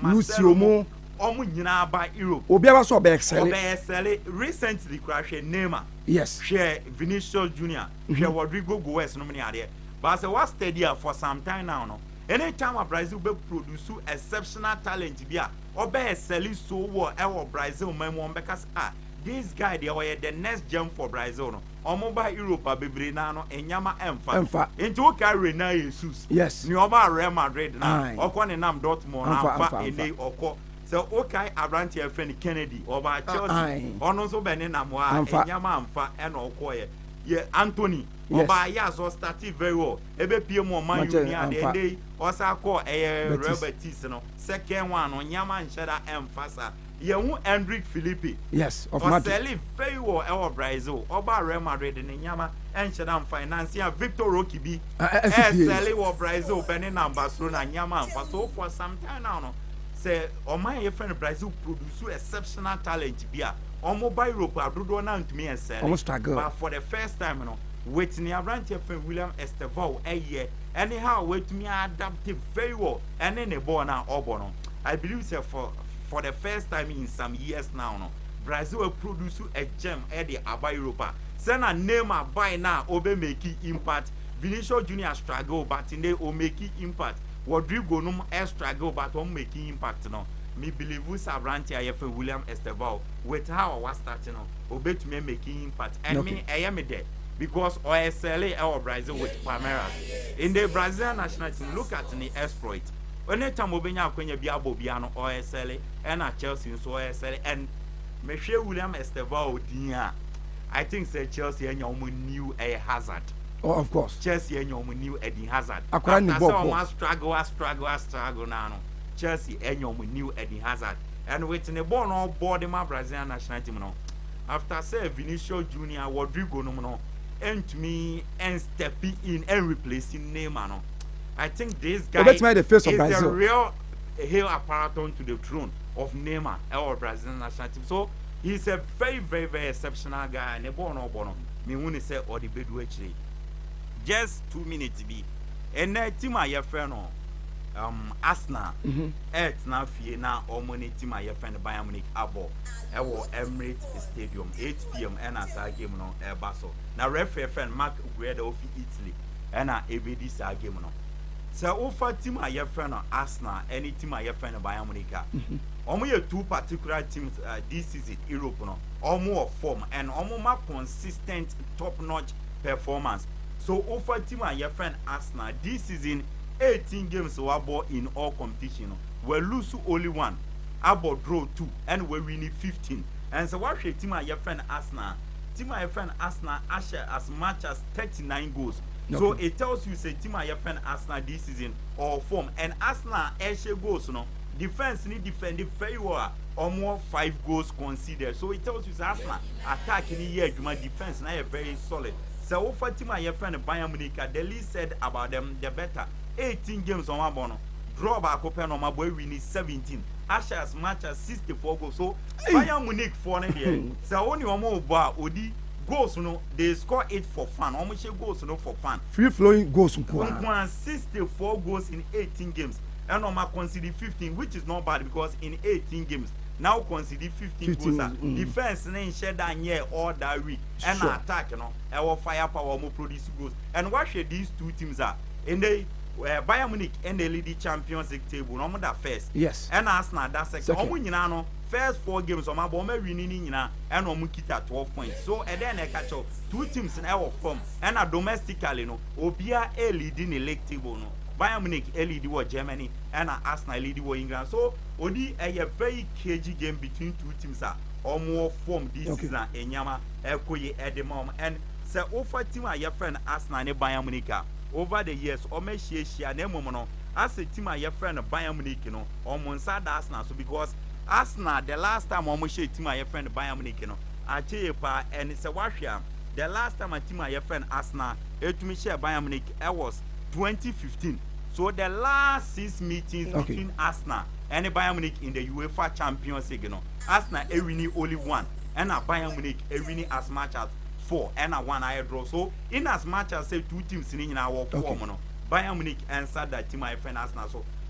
lucio mo ɔmo nyinaa ba europe obiara sɛ ɔbɛyɛ sɛle ɔbɛyɛ sɛle recently kura hwɛ neymar yes hwɛ vinicius junior hwɛ mm-hmm. rodrigo goes nom ne adeɛ baasa wa steady a for some time now no anytime a brazil bɛ produce exceptional talent bi a ɔbɛyɛ sɛle so wɔ ɛwɔ brazil man mu ɔmo bɛka sɛ ah this guy deɛ ɔyɛ the next gem for brazil no Ɔmo ba Europe a bebree naa no nnyɛma ɛnfa. Ɛnfa. Nti wo kae Renan Jesus. Yes. Nea ɔbaa Real Madrid na Aye. ɔkɔ ne nam Dortmund Anfa, anfa anfa, anfa. enei ɔkɔ. Sɛ wo kae abranteɛ a yɛfrɛ no Kennedy ɔbaa Ah, Chelsea aye. ɔno nso bɛ ne nam hɔ a Anfa. nnyɛma anfa ɛna ɔkɔeɛ. Yɛ Anthony Yes. ɔbaa Ajax ɔ startee very well ɛbɛ pie mu wɔ Man U Manchester, ni adeɛ anfa. enei ɔsaa kɔɔ ɛyɛ Real Betis. Betis no second one no nnyɛma nhyɛda ɛnfa saa. Yɛn hu Endrick Filipe. Yes, of Madrid. Ɔsɛli fɛyi wɔ ɛwɔ Brazil. Ɔba Real Madrid de ne nneɛma ɛnhyɛ da nfa. Nansi a Victor Roque bi ɛsɛli wɔ Brazil bɛ ne nam Barcelona nneɛma nfa. So for some time now no sɛ ɔman yɛ fɛn Brazil produce exceptional talent bi a ɔmo ba Europe a dodoɔ naa ntumi ɛsɛli. But for the first time no with ne abranteɛ fɛn William Estevao ɛyɛ ɛne how wetumi adapte very well ɛne ne bɔɔl naa ɔbɔ no I believe sɛ for for the first time in some years now no Brazil aproduce a gem de aba Europe a sɛ na Neymar bae no a ɔbɛ make impact Vinicius Junior struggle but ne o make impact Rodrigo nom struggle but ɔmo make impact no me believe sɛ aberante a yɛfɛ William Estevao with how a wa start no ɔbɛtumi a make impact and me ɛyɛ me dɛ because ɔyɛ sɛle ɛwɔ Brazil with Palmeiras in the Brazilian national team look at ne exploit Any time obenya akwanya bi abɔ bia no ɔresɛle ɛna Chelsea nso ɔresɛle and mehwɛ William Estevao din a I think sɛ Chelsea anya wɔn new ɛyɛ Hazard. Oh, of course. Chelsea anya wɔn new Eden Hazard. Akora ne bɔ bɔ. After struggle a struggle a struggle na no Chelsea anya wɔn new Eden Hazard and with ne bɔɔl na ɔbɔ de ma Brazilian national team no after sɛ Vinicius Junior Rodrigo nom no ɛntumi ɛnstepi in ɛnreplace Neymar no. Obetumi ayɛ the face of Brazil. Hail Aparaton to the throne of Neymar ɛwɔ Brazil national team so he is a very very very exceptional guy ne bɔɔl na ɔbɔ no mehu ne sɛ ɔde bɛdu akyire just two minutes bi ɛnɛ team a yɛfrɛ no um, Arsenal ɛtena mm-hmm. fie na wɔn ne team a yɛfrɛ no Bayern Munich abɔ ɛwɔ Emirates Stadium 8 pm ɛna saa game no ɛba so na referee fɛn Mark Guerra ofi Italy na ebedi saa game no. Sɛ wofa team a yɛfrɛ no Arsenal ne team a yɛfrɛ no Bayern Munich a, wɔn yɛ two particular teams uh, this season Europe no. Wɔn wɔ form and wɔn ma consistent top notch performance. So wofa team a yɛfrɛ no Arsenal this season 18 games wabɔ in all competition no, wɔalose only one, abɔ draw two, ɛna wɔawini 15. And sɛ woahwɛ team a yɛfrɛ no Arsenal, team a yɛfrɛ no Arsenal ahyɛ as much as thirty nine goals so okay. it tells you say team a yɛfɛ no Arsenal this season or form and Arsenal ɛhyɛ goals no defence ni defend very well a wɔn five goals conceded so it tells you say Arsenal attack ni yɛ adwuma defence na yɛ very solid sɛ wofa team a yɛfɛ no Bayern Munich the least said about them the better eighteen games wɔn abɔ no draw baako pɛ na wɔn abɔ awi ni seventeen Ashes matches sixty four goals so Bayern Munich foɔ no deɛ sɛ wɔn ni wɔn bɔ a odi. Goals no they score it for fun, wɔn hyɛ goals no for fun. Free flowing goals nko ara. Nko ara, sixty four goals in eighteen games, ɛna wɔn a concede fifteen which is not bad because in eighteen games na wo concede fifteen goals a, mm. defence no nhyɛ da nyɛ all that weak, ɛna sure. attack no ɛwɔ fire power wɔn produce goals, and wahwɛ these two teams a, ɛnɛ yi. Eh, Bayern Munich ɛna ɛlidi Champions League table na wɔn da first, yes, ɛna Arsenal da second, wɔn nyinaa no. First four games wɔn abɔ wɔn awini ne nyinaa ɛna wɔn kita twelve points so ɛdɛn na ɛka kyɛw two teams na ɛwɔ fam ɛna domestically no obia elidi ne league table no Bayern Munich elidi wɔ Germany ɛna Arsenal elidi wɔ England so oni ɛyɛ very cagey game between two teams a wɔn wɔ fam this okay. season a enyama ɛkɔ yi ɛde ma wɔn and sɛ wofa team a yɛfrɛ no Arsenal ne Bayern Munich a over the years wɔn ahyiahyia na mmom no asɛ team a yɛfrɛ no Bayern Munich no wɔn nsa da Arsenal so because Arsenal the last time wɔn hyɛ team a yɛfrɛ no Bayern Munich no akyɛ yie paa ɛne sɛ wahwɛ a the last time a team a yɛfrɛ no Arsenal etumi hyɛ Bayern Munich ɛwas 2015 so the last six meetings okay. between Arsenal ɛne Bayern Munich in the UEFA Champions League no Arsenal ewini only one ɛna Bayern Munich ewini as much as four ɛna one ayɛ draw so in as much as say two teams ni nyinaa wɔ four mu no Bayern Munich ɛnsa da team a yɛfrɛ no Arsenal so.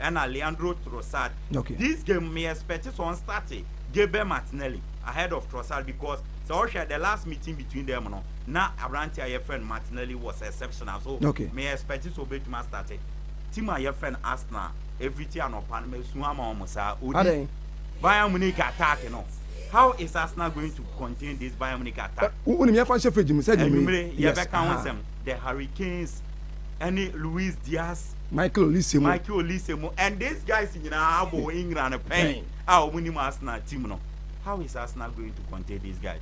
ɛna Leandro Trossard okay. this game me expect so on start Gabriel Martinelli ahead of Trossard because sɛ ɔhwɛ the last meeting between them no na aberante a yɛfrɛ no Martinelli was exceptional so okay. me expect so obetumi astart team a yɛfrɛ no Arsenal every ti anɔpa no mesu ama wɔn saa odi Bayern Munich attack no how is Arsenal going to contain this Bayern Munich attack? wọ́n yẹn fa ṣe fèjì mu sẹ́yìn mi. ẹnumere yẹ bẹ ka wọn sẹm the Hurricanes ẹni Luis Diaz Michael Olise mu. Michael Olise mu and these guys nyinaa abɔ wɔn England pɛn a wɔn nim Arsenal team no how is Arsenal going to contain these guys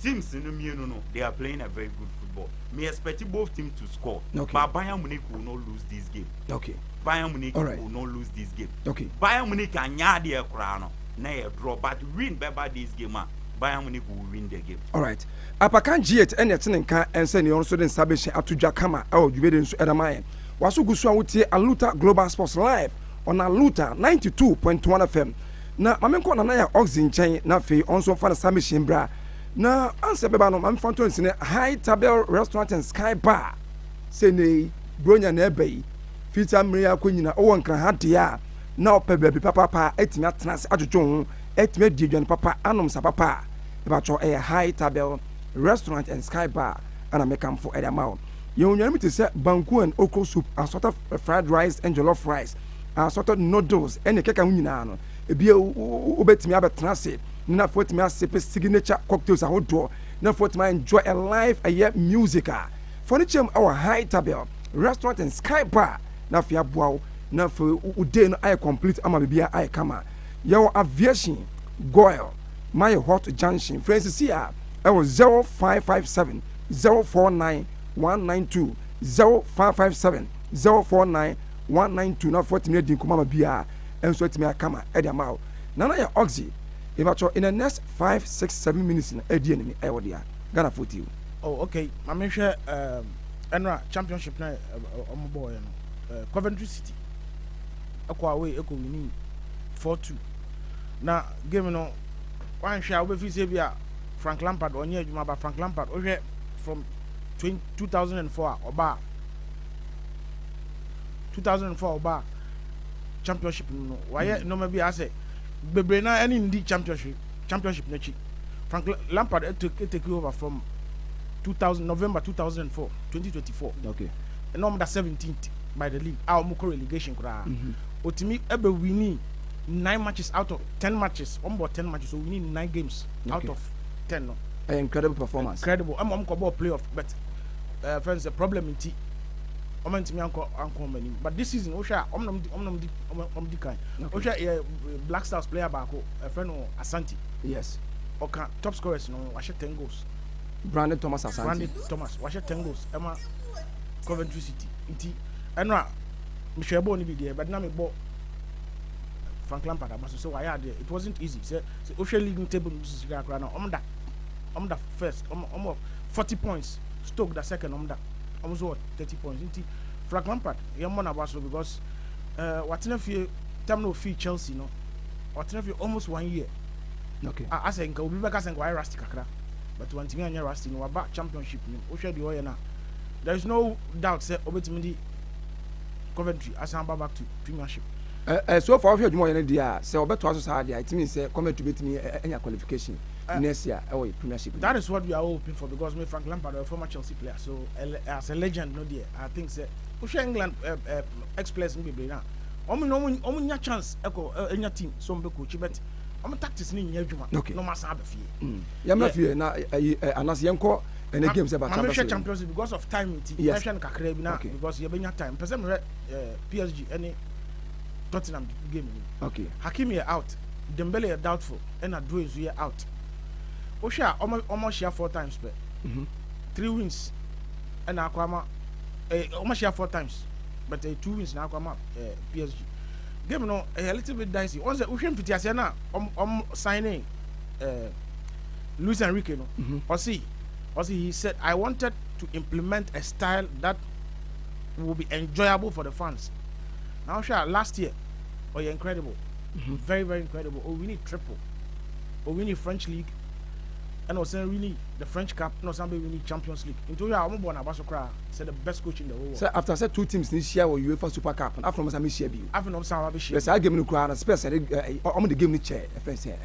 teams no mmienu no they are playing a very good football me expect both teams to score okay. but Bayern Munich will not lose this game okay. Bayern Munich right. will not lose this game okay. Bayern Munich anya adeɛ koraa no na yɛ draw but win bɛba this game a Bayern Munich will win the game. All right. Apakan G8 ɛna ɛtene nka ɛnsɛ ne ɔno nso de nsa bɛhyɛ ato dwa kama ɛwɔ dwumadi nso ɛda ma yɛn. Waso gu so a wotie Aluta Global Sports live on Aluta ninety two point one FM. Na ma menkɔ Nana ya Oxy nkyɛn na afei ɔno nso mfa ne submission bra. Na ansa bɛba no ma memfa nto nsene High Tabel Restaurant and Sky Bar. Sɛ nnɛ yi Buronya na ɛreba yi, firi saa mmerɛ yi akɔ nyina wowɔ Nkran ha deɛ a, na wopɛ baabi papaapa atumi atena ase adwodwo wo ho, atumi adi aduane papa, anom nsa papa a, mepakyɛw ɛyɛ High Tabel Restaurant and Sky Bar na mekamfo de ama wo. Yɛn nnuane bi te sɛ banku and okro soup, assorted fried rice and jollof rice, assorted noodles ne kɛkɛ ho nyinaa no, ebia wobɛtumi abɛtena ase ne na afei watumi asepe signature cocktails ahodoɔ na afei watumi enjoy a live ɛyɛ music a fa no kyɛm wɔ Hytabel Restaurant and Sky Bar na afei aboa wo na afei wo day no ayɛ complete ama biribiara ayɛ kama. Yɛwɔ Aviation, Goil, Maye Hot Junction. Frɛ yɛn sisi a ɛwɔ 0557 zero four nine one nine two zero five five seven zero four nine one nine two na fɔtumi adi nkɔmɔ ama biara nso atumi akama ɛde ama awo na na yɛ oxy ebatɔ in the next five six seven minutes na ɛdi ɛnini ɛyɛ wɔ deɛ Ghana fo ti o. Oh okay maame nhwɛ ɛnora um, championship na ɔmo um, bɔɔyɛ no uh, Coventry City ɛkɔ away ɛkɔ winning four two na game no wanhwɛ a wobɛfiri sɛ bi a Frank Lampard ɔnyɛ adwuma ba Frank Lampard wohwɛ from 2004 a ɔba a 2004 a ɔba championship no no wayɛ nneɛma bi a asɛ bebree na ɛne ndi championship championship n'akyi Frank Lampard take take over from 2000 November 2004 2024 okay ɛna wɔn da 17th by the league a wɔn kɔ relegation koraa otumi ɛbɛ winning. Nine matches out of ten matches wɔn bɔ ten matches wɔn winning nine games out of ten no. Ɛyɛ incredible performance. Incredible ɛma wɔn kɔ bɔɔ play off but ɛɛ fɛn sɛ problem nti wɔn ntumi ankɔ ankɔ wɔn anim but this season wohwɛ a wɔn nam di wɔn nam di wɔn di kan wohwɛ yɛ Black Stars player baako ɛfɛ no Asante. Yes. Ɔka top scorers no wahyɛ ten goals. Brandon Thomas Asante. Brandon Thomas wahyɛ ten goals ɛma Coventry City nti ɛno a mehwɛ bɔɔl no bi deɛ bɛde na mebɔ. frank lampard aba so sɛ wayɛ adeɛ it wasn't easy sɛ sɛ wohwɛ league no table no bi sisi kakra na ɔmo da ɔmo da first ɔmo ɔmo forty points stoke da second ɔmo da ɔmo nso wɔ thirty points nti frank lampard yɛn mmɔ n'aba so because ɛɛ eh, watena fie tam na ofi chelsea no ɔtena fie almost one year okay a asɛ nka obi bɛka sɛ nka wayɛ rusty kakra but wantumi anyɛ rusty no waba championship no wohwɛ deɛ ɔyɛ no a there is no doubt sɛ obetumi di Coventry asan aba back to Premiership. Ɛ ɛ so far wohwɛ adwuma ɔyɛ no deɛ a sɛ ɔbɛtoa so saa deɛ a ɛtumi sɛ Coventry bɛtumi anya qualification next year ɛwɔ Premiership. That is what we are all hoping for because me Frank Lampard ɔyɛ former Chelsea player so as a legend no deɛ I think sɛ wohwɛ England ex players no bebree no a wɔn nyɛ wɔn nya chance ɛkɔ ɛnya team so wɔn bɛ coach but wɔn tactics no nyɛ adwuma na wɔn asan aba fie. yɛmmra fie na ayi anas yɛnkɔ ɛne game sɛ ba champions league champions league because of time nti yes. mɛhwɛ no kakra bi na okay. because yɛbɛnya time pɛ sɛ mehwɛ uh, psg ɛne tottenham game ni okay. hakim yɛ out dembele yɛ doubtful ɛna duro nso yɛ out wohwɛ a ɔmo ɔmo ahyia four times pɛ mm -hmm. three wins ɛna akɔ ama ɛɛ ɔmo ahyia four times but ɛyɛ two wins na akɔ ama ɛɛ eh, psg game no ɛyɛ little bit dicey wɔn sɛ wohwɛ mfitiaseɛ no a ɔmo ɔmo sign in. eh, Luis Enrique no mm -hmm. ɔse ɔse he said I wanted to implement a style that will be enjoyable for the fans na wohwɛ a last year ɔyɛ incredible mm -hmm. very very incredible ɔwini triple ɔwini French league ɛna ɔsan wini the French cup ɛna ɔsan bɛ wini Champions League nti wohwɛ a wɔn bɔ n'aba so koraa sɛ the best coach in the whole world. sɛ after sɛ two teams ni hyia wɔ UEFA Super Cup afei na wɔn san bɛ hyia bi o. afei na wɔn san bɛ hyia bi. bɛ saa game no koraa na Spurs ɛde wɔn de game no kyɛ ɛfɛn sɛ.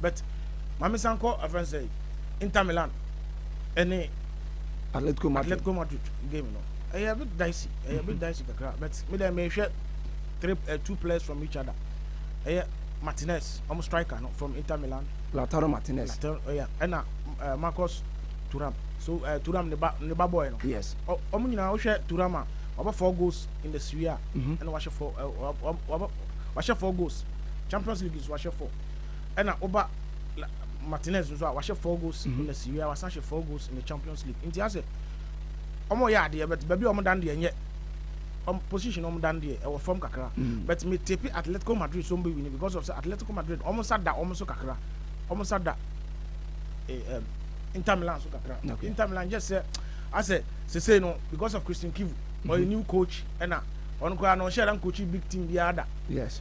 but maame san kɔ afɛn sɛ Inter Milan ɛne Atletico Madrid Atletico Madrid game no ɛyɛ a bit dicey ɛyɛ a bit dicey kakra but me dɛ mehwɛ three uh, two players from each other ɛyɛ Martinez ɔmo striker no from Inter Milan Lautaro Martinez Lautaro ɛyɛ ɛna uh, Marcus Thuram so uh, Thuram ne ba ne ba boy no yes ɔmo nyinaa wohwɛ Thuram a waba four goals in the Serie A ɛna wahyɛ four wahyɛ four goals Champions League So wahyɛ four? Ɛna woba Martinez nso a wahyɛ four goals mm -hmm. na Serie A wasan hyɛ four goals in the Champions League nti asɛ wɔn yɛ adeɛ bɛt baabi a wɔn dan deɛ nyɛ wɔn position wɔn dan deɛ ɛwɔ fam kakra mm. but me tepe Atletico Madrid so wɔn bɛ win because of sɛ Atletico Madrid wɔn nsa da wɔn so kakra wɔn nsa da eh, eh, Inter Milan so kakra okay. Inter Milan just sɛ asɛ sese no because of Christian Kivu mm -hmm. ɔyɛ new coach ɛna ɔno koraa na ɔhyɛ dan coach big team biara da yes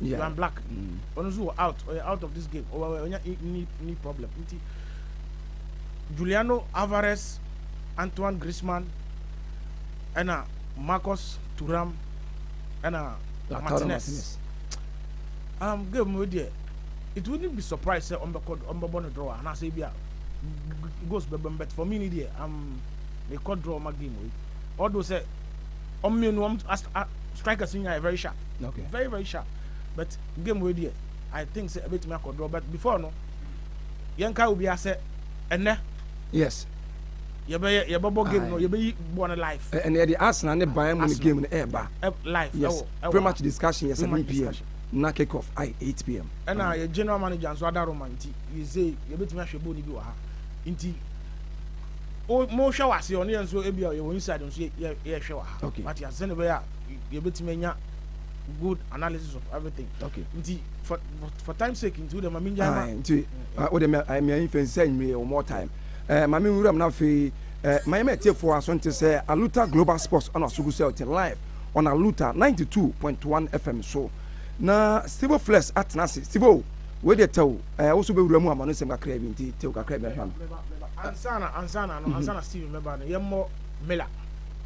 yeah. Joan Black ɔno nso wɔ out ɔyɛ out of this game ɔnya ni ni problem nti Juliano Alvarez Antoine Griezmann ɛna Marcus Thuram ɛna Martinez um, game mu deɛ it wouldn't be surprised sɛ ɔmbɛkɔ ɔmbɛbɔ no draw anaasɛ bi a goals bɛbɛm but for me ni deɛ um, mekɔ draw ma game wei ɔdo sɛ ɔmmienu ɔm strikers nyinaa yɛ very sharp Okay. Very very sharp. But game wei deɛ I think sɛ ɛbɛtumi akɔ draw but before no yɛnka obi asɛ ɛnɛ. Yes. yɛbɛyɛ yɛbɛbɔ game no yɛbɛyi bɔ no live. ɛnna yɛde Arsenal ne Bayern Munich game no ɛɛba. live yes pretty much discussion yɛ seven pm na kick off ayɛ eight pm. ɛnna yɛ general manager nso ada Roma nti yɛ sɛ yɛbɛtumi ahwɛ bɔ ne bi wɔ ha nti mo hwɛ wɔ aseɛ ɔne yɛn nso ebi a yɛ wɔ inside nso yɛ yɛ hwɛ wɔ ha. okay mate asɛn ne bɛyɛ a. yɛbɛtumi anya good analysis of everything okay nti for for, for time sake nti wode ma mengya ma nti wode meayi fɛ sɛ nwie wɔ more time eh, ma menwuram no afei eh, ma yɛma atiefoɔ aso nte sɛ aluta global sports ɛna aso gu sɛ ɔte live on aluta 92.1 fm so na stivo flex atena ase stivo wei deɛ tɛw eh, wo so bɛwura mu ama no nsɛm kakra bi nti tɛw kakra bi ahwɛ no ansana ansana no ansana steven mɛba no yɛmmɔ mela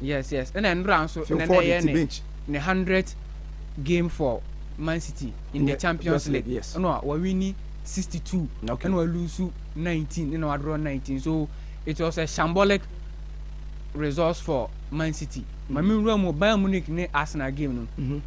Yes yes ɛna nnora nso nnɛ yɛ ne ne hundred game for Man City in the Champions League ɛna wawini sixty two ɛna walusu nineteen ɛna wadorɔ nineteen so it was a shambolic results for Man City. Mm-hmm. Maame nwura mu Bayern Munich ne Arsenal game no. Mm-hmm.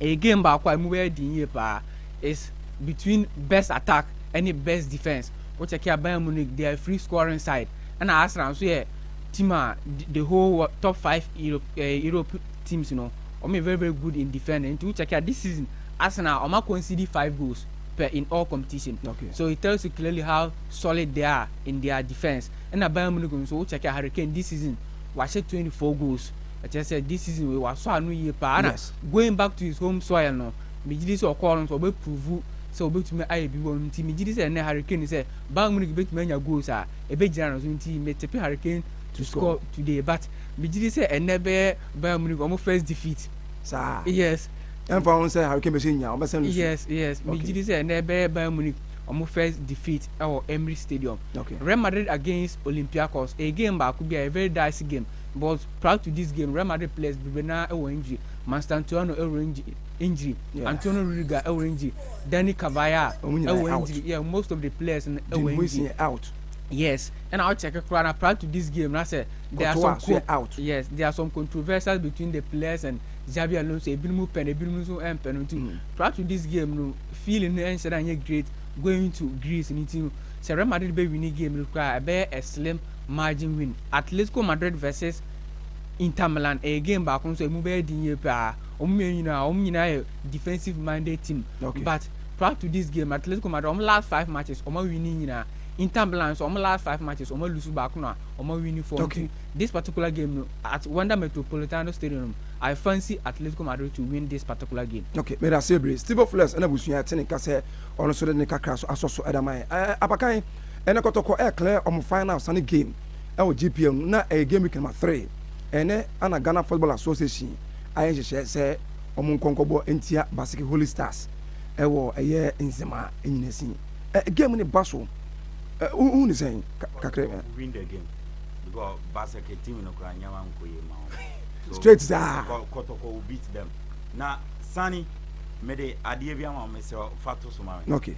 A game baako a emu bɛyɛ den yie paa is between best attack ɛne best defence. Wokyɛkɛ a Bayern Munich they are free scoring side ɛna Arsenal nso yɛ team a the whole top five Europe eh, Europe teams no wɔn yɛ very very good in defending nti wo check a this season Arsenal wɔn a concede five goals per in all competition okay. so it tells you clearly how solid they are in their defence ɛna Bayern Munich nso wo check a Harry Kane this season wahyɛ twenty four goals ɛkyɛ sɛ this season wei wasɔ ano yie paa na yes. going back to his home soil no megye di sɛ ɔkɔɔ no nso ɔbɛprovu sɛ ɔbɛtumi ayɛ bi wɔ no nti megye di sɛ ɛnɛ Harry Kane sɛ Bayern Munich bɛtumi anya goals a ɛbɛgyina no so nti me tipe hurricane to score today but me gyidi sɛ ɛnɛ bɛyɛ Bayern Munich ɔmo first defeat saa yes ɛnfa ho sɛ hurricane bɛsɛ nya ɔmo bɛsɛ no so yes yes me gyidi sɛ ɛnɛ bɛyɛ Bayern Munich ɔmo first defeat ɛwɔ Emirates Stadium okay. Real Madrid against Olympiacos ɛyɛ game baako bi a ɛyɛ very dicey game but prior to this game Real Madrid players bebree naa ɛwɔ injury Mastantuono ɛwɔ injury injury yeah. Antonio Rudiger ɛwɔ eh, injury Dani Carvajal ɛwɔ eh, injury yeah most of the players no ɛwɔ eh, injury out yes ɛna awo kyɛkɛ koraa na prior to this game na sɛ there are some co out yes there are some controversies between the players and Xabi Alonso ebinom pɛ na ebinom nso ɛmpɛ no nti mm. prior to this game no feeling no ɛnhyɛ na nyɛ great going to Greece no nti no sɛ Real Madrid bɛ win game no koraa ɛbɛyɛ a slim margin win Atletico Madrid versus Inter Milan ɛyɛ game baako nso emu bɛyɛ den yie paa. Wɔn mmienu nyinaa, wɔn nyinaa yɛ defensive minded team. Okay. But prior to this game, Atletico Madrid, wɔn last five matches, wɔn awini nyinaa. Inter Milan nso, wɔn last five matches, wɔn alusu baako na wɔn awini four. Okay. This particular game no, at Wanda Metropolitano Stadium, I fancy Atletico Madrid to win this particular game. Okay, meda ase bebree. Steve Flores ɛna busua ɛte ne nka sɛ ɔno nso de ne kakra so asɔ so ɛda man. Ɛɛ abakan ɛna kɔtɔkɔ ɛɛ clear wɔn finals ne game. wɔ GPL no na ɛyɛ game week number three. Ɛnnɛ ana Ghana Football Association ayɛ nhyehyɛɛ sɛ wɔn nkɔ nkɔbɔ ntia Baseke Holy Stars wɔ ɛyɛ Nsema Nyinasin. Ɛ game no ba so ɛ wohu ne sɛn kakra ɛ. Win the game because Baseke team no kora nneɛma nkɔ yie ma wɔn. Straight saa. Kɔ kɔtɔkɔ will beat them. Na Sani mede adeɛ bi ama wo mesrɛ fa to so ma me. Okay.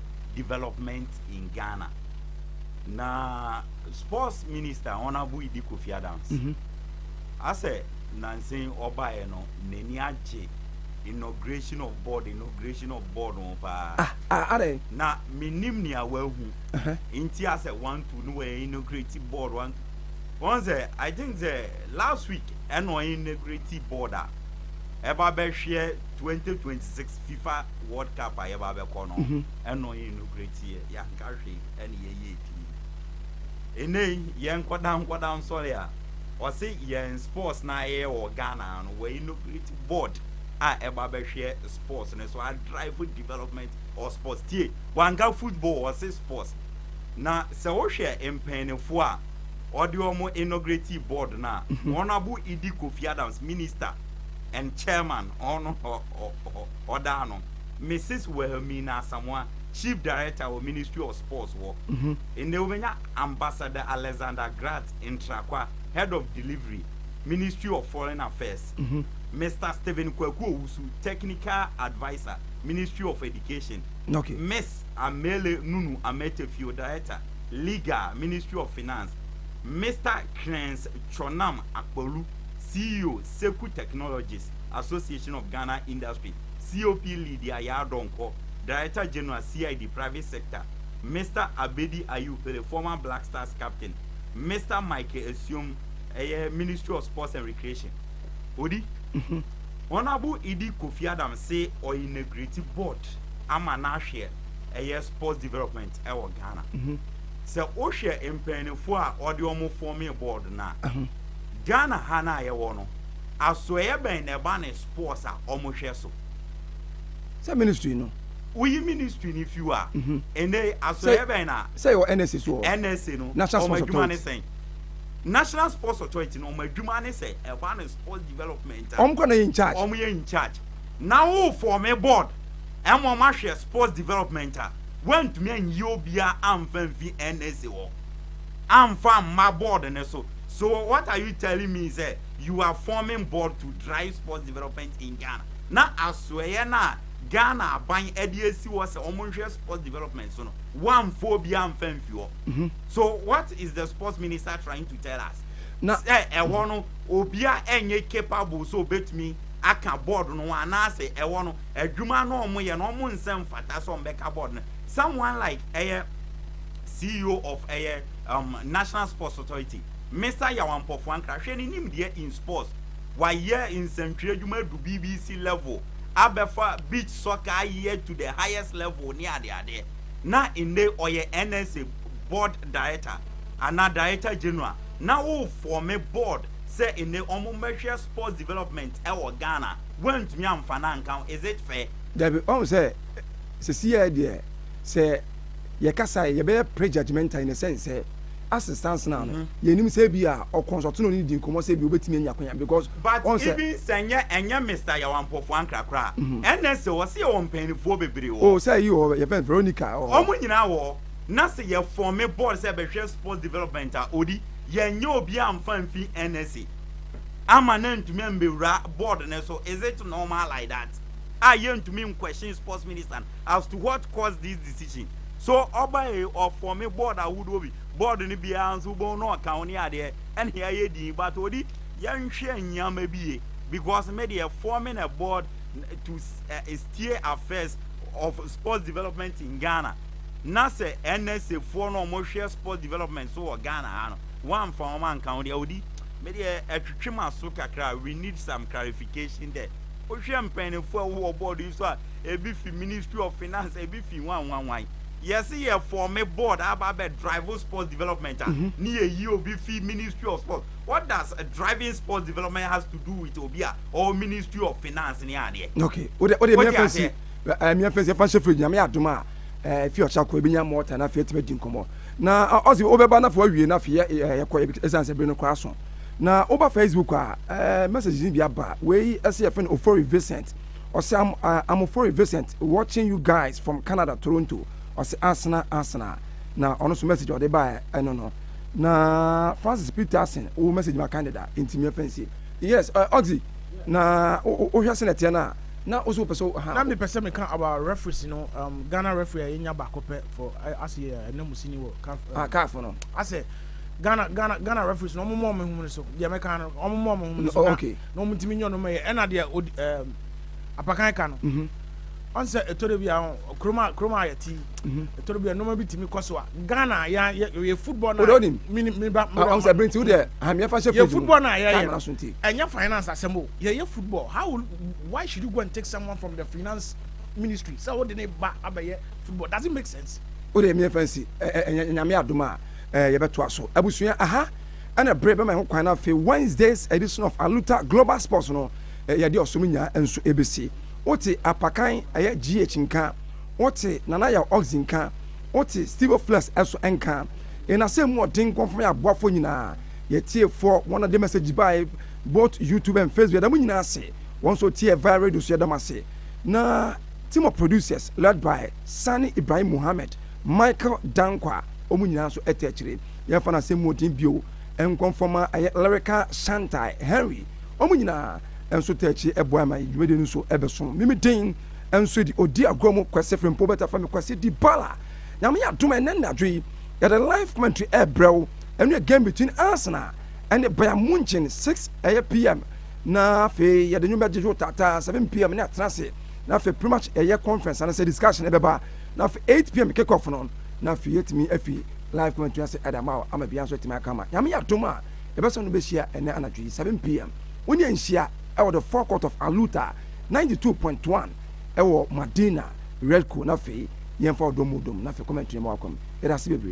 development in Ghana. Na sports minister Honorable Idi Kofi Adams mm -hmm. asɛ nansen ɔbaeɛ no n'ani agye inauguration of board inauguration of board ho paa ah, ah, ah, na menim nea wahu uh -huh. nti asɛ one two no wɔ inaugurate board one two wɔn sɛ i think sɛ last week ɛna ɔyɛ inaugurate board a ɛba bɛhwɛ 2026 Fifa World Cup a yɛba bɛkɔ no, ɛno yɛ nokorɛ teɛ, yɛanka hwee ɛne yɛyɛɛ pii. Ɛnnɛ yi yɛ nkwadaa nkwadaa nsɔre a, wɔse yɛn sports no a yɛyɛ wɔ Ghana ha no, wɔinnograto board a ɛba bɛhwɛ sports no so, adrive development of sports. Tie, wɔanka football, wɔse sports. Na sɛ wohwɛ mpaninfoɔ a wɔde wɔn innogratee board no a, wɔn abo Idi Kofi Adams, minister and chairman, wɔn hɔ. ɔdaa no Mrs Wilhelmina Asamoah chief director wɔ ministry of sports hɔ ɛnɛ wobɛnya ambassador Alexander Grat Ntrakwa head of delivery ministry of foreign affairs Mr Stephen Kwaku Owusu technical adviser ministry of education Miss Amele Nunu Ametefio director legal ministry of finance Mr Krens Chonam Akpolu CEO Seku technologies Association of Ghana Industry, COP Lydia Yaa Donkor, Director General, CID, Private Sector, Mister Abedi Ayew Pele, former Black Stars captain, Mister Michael Asuom, ɛyɛ Ministry of Sports and Recreation. Odi. Honourable Idi Kofi Adams se ɔinagreti board ama no ahweɛ ɛyɛ sports development ɛwɔ Ghana. Sɛ wohwɛ mpaninfoɔ a ɔde wɔn fɔmee board no a, Ghana ha no a yɛwɔ no, Asoɛeɛ bɛn na ɛba ne sports a ɔmo hwɛ so? Sɛ ministry no. Woyi ministry no fi hɔ a, ɛnɛ yi asoɛeɛ bɛn na. Sɛ yɛwɔ NSA so wɔ. NSA no, National ɔmo Sports adwuma ne Authority. sɛn? National Sports Authority no, ɔmo adwuma ne sɛ ɛba ne sports development a. Ɔmo kora na yɛ in charge. Ɔmo yɛ in charge. Na wo forme board ma ɔmo ahwɛ sports development a, woantumi anyi obiara amfa amfi NSA hɔ amfa amma board no so. So what are you telling me sɛ. you are forming board to drive sports development in Ghana. Na asoɛeɛ no a Ghana aban de asi hɔ sɛ wɔnhwɛ sports development so no, wɔamfa obiara amfa amfi hɔ. Mhm. So what is the sports minister trying to tell us? Na- Sɛ ɛhɔ no obiara ɛnyɛ capable sɛ obetumi aka board no ho anaasɛ ɛhɔ no adwuma no a wɔyɛ no wɔn nsɛ mfata sɛ wɔbɛka board no. Someone like ɛyɛ CEO of ɛyɛ um, National Sports Authority Mesa Yawan Mpɔfoa Nkra, Hwɛ ne nimdeɛ in sports, wayɛ nsɛntwerɛ adwuma adu BBC level, abɛfa beach soccer ayɛ to the highest level ne adeadeɛ, na nnɛ ɔyɛ NSA board director anaa director general, na wo forme board sɛ nnɛ wɔn mmɛhwɛ sports development wɔ Ghana, woantumi amfa no anka ho, is it fair? Dabi, wahu sɛ sesei ara deɛ sɛ yɛkasa a yɛbɛyɛ prejudgemental in a sense sɛ assistance now no mm-hmm. yɛnim sɛ bi a ɔkɔnsɔto no ne di nkɔmmɔ sɛ bi wobɛtumi anya kwanya because but even sɛ nyɛ ɛnyɛ mr yawampɔfoɔ ankra koraa mm-hmm. ɛnɛ sɛ wɔ sɛ yɛwɔ mpanyinifoɔ bebree wɔ o oh, sɛ yi wɔ yɛfɛ veronica wɔ oh. ɔmo nyinaa wɔ na sɛ yɛfɔn me board sɛ bɛhwɛ sports development a odi yɛnyɛ obi amfa mfi nsa ama na ntumi mbɛwura board ne so is it normal like that a yɛntumi nkwɛhyɛn sports minister as to what caused this decision so ɔba yi ɔfɔme board ahodoɔ bi board no biara nso wobɛhu na ɔka ho ne adeɛ ɛne ayɛ din but ɔde yɛnhwɛ nneɛma bi ye because me deɛ forming a board to uh, steer affairs of sports development in ghana na sɛ nsa foɔ no wɔhwɛ sports development so wɔ ghana ha no wɔamfa wɔn anka ho deɛ ɔde me deɛ ɛtwetwe ma so kakra we need some clarification there wohwɛ mpanyinfoɔ a wɔwɔ board yi so a Ebi fi ministry of finance, ebi fi hwan hwan hwan. Yɛse yɛ form board aba abɛ drive sports development a, mm-hmm. ne yɛyi obi fi ministry of sports. What does driving sports development has to do with obi a or ministry of finance ne adeɛ? Okay, o de o de mmea fɛnsi, mmea fɛnsi ɛfa nhyɛ fridge nyame adum a ɛfi ɔkyɛ akɔ ebi nya mɔɔta na afei etimi di nkɔmɔ na ɔsi ɔbɛba na afei ɔwie na afei yɛ ɛkɔ ɛsan sɛ bere no kora so na ɔba Facebook a ɛɛ messages bi aba wei ɛsɛ yɛ fɛn ofori Vincent. Ɔse am amofori Vincent watching you guys from Canada Toronto ɔse asena asena na ɔno nso message ɔde baɛ ɛno no na Francis Peterson wo message ma Canada nti mia fɛnsi yes uh, Oxy na wohwɛ sɛ na ɛteɛ no a na wo so wopɛ sɛ ha. Na mepɛ sɛ meka about referees no um, Ghana referee a yɛnya baako pɛ for asɛ yɛ ɛnamusini wɔ CAF um, ah, CAF no asɛ Ghana Ghana Ghana referees no ɔmo mɔ ɔmo ho no so deɛ mɛka no ɔmo mɔ ɔmo ho no so oh, okay. na wɔn ntumi nyɛ ɔnoma yɛ ɛna deɛ odi ɛɛ apakan ka no mhm. ɔn sɛ ɛtɔ de bi a kurom a kurom a yɛte ɛtɔ de bi a nnoma bi tumi kɔ so a ghana yɛ yɛ football na yɛ mini mini ba mini ɔn sɛ birinti deɛ hamiya fa hyɛ fridge mu yɛ football na yɛ yɛ ɛnyɛ finance asɛm o yɛ yɛ football how why should you go and take someone from the finance ministry sɛ o de ne ba abɛyɛ football does it make sense. o de mi yɛ fɛn si ɛ ɛ nyame adum a ɛ yɛ bɛ to aso abusua aha. Ɛna bere bɛma yɛho kwan na afei Wednesday's edition of Aluta Global Sports no yɛde ɔsom nya nso ɛbɛsi. Wote Apakan ɛyɛ GH nka, wote Nana Yaw Oxy nka, wote Stevo Flex ɛso nka. Yɛn asɛm mu ɔden nkɔmfo ma yɛn aboafoɔ nyinaa, yɛn tiefoɔ, wɔn a de message bae both YouTube and Facebook yɛda mo nyinaa ase, wɔn nso ɔtiee via radio nso yɛda mo ase. Na team of producers led by Sani Ibrahim Mohammed, Michael Dankwah, wɔn nyinaa nso ɛte akyire. yɛmfa no asɛm mu ɔden bio nkɔ mfama ɛyɛ Lyrica Shantai Henry wɔn nyinaa nso taa akyi boa ma dwumadie no nso bɛso me me den nso di ɔdi agorɔ mu Kwasi Frimpo bɛta fa me Kwasi Dibala Nyame yɛ adom ɛnɛ nnadwo yi yɛde live commentary ɛbrɛ wo ɛno yɛ game between Arsenal ɛne Bayern Munchen 6 ɛyɛ pm na afei yɛde nwom bɛgyegye wo taataa 7 pm ne atena ase na afei pretty much ɛyɛ conference anasɛ discussion ɛbɛba na afei 8 pm kick off no na afei yɛtumi afi Live kɔmɛntri ase ɛda ama ama bia nso atumi aka ma Nyame yɛ adom a yɛbɛsan no bɛhyia ɛnɛ anadwo yi 7 PM wo ne yɛn nhyia ɛwɔ the forecourt of Aluta 92.1 ɛwɔ Madina Redco na afei yɛn fa ɔdɔ mu dom na afei kɔmɛntri ma wakɔ mu yɛda ase bebree.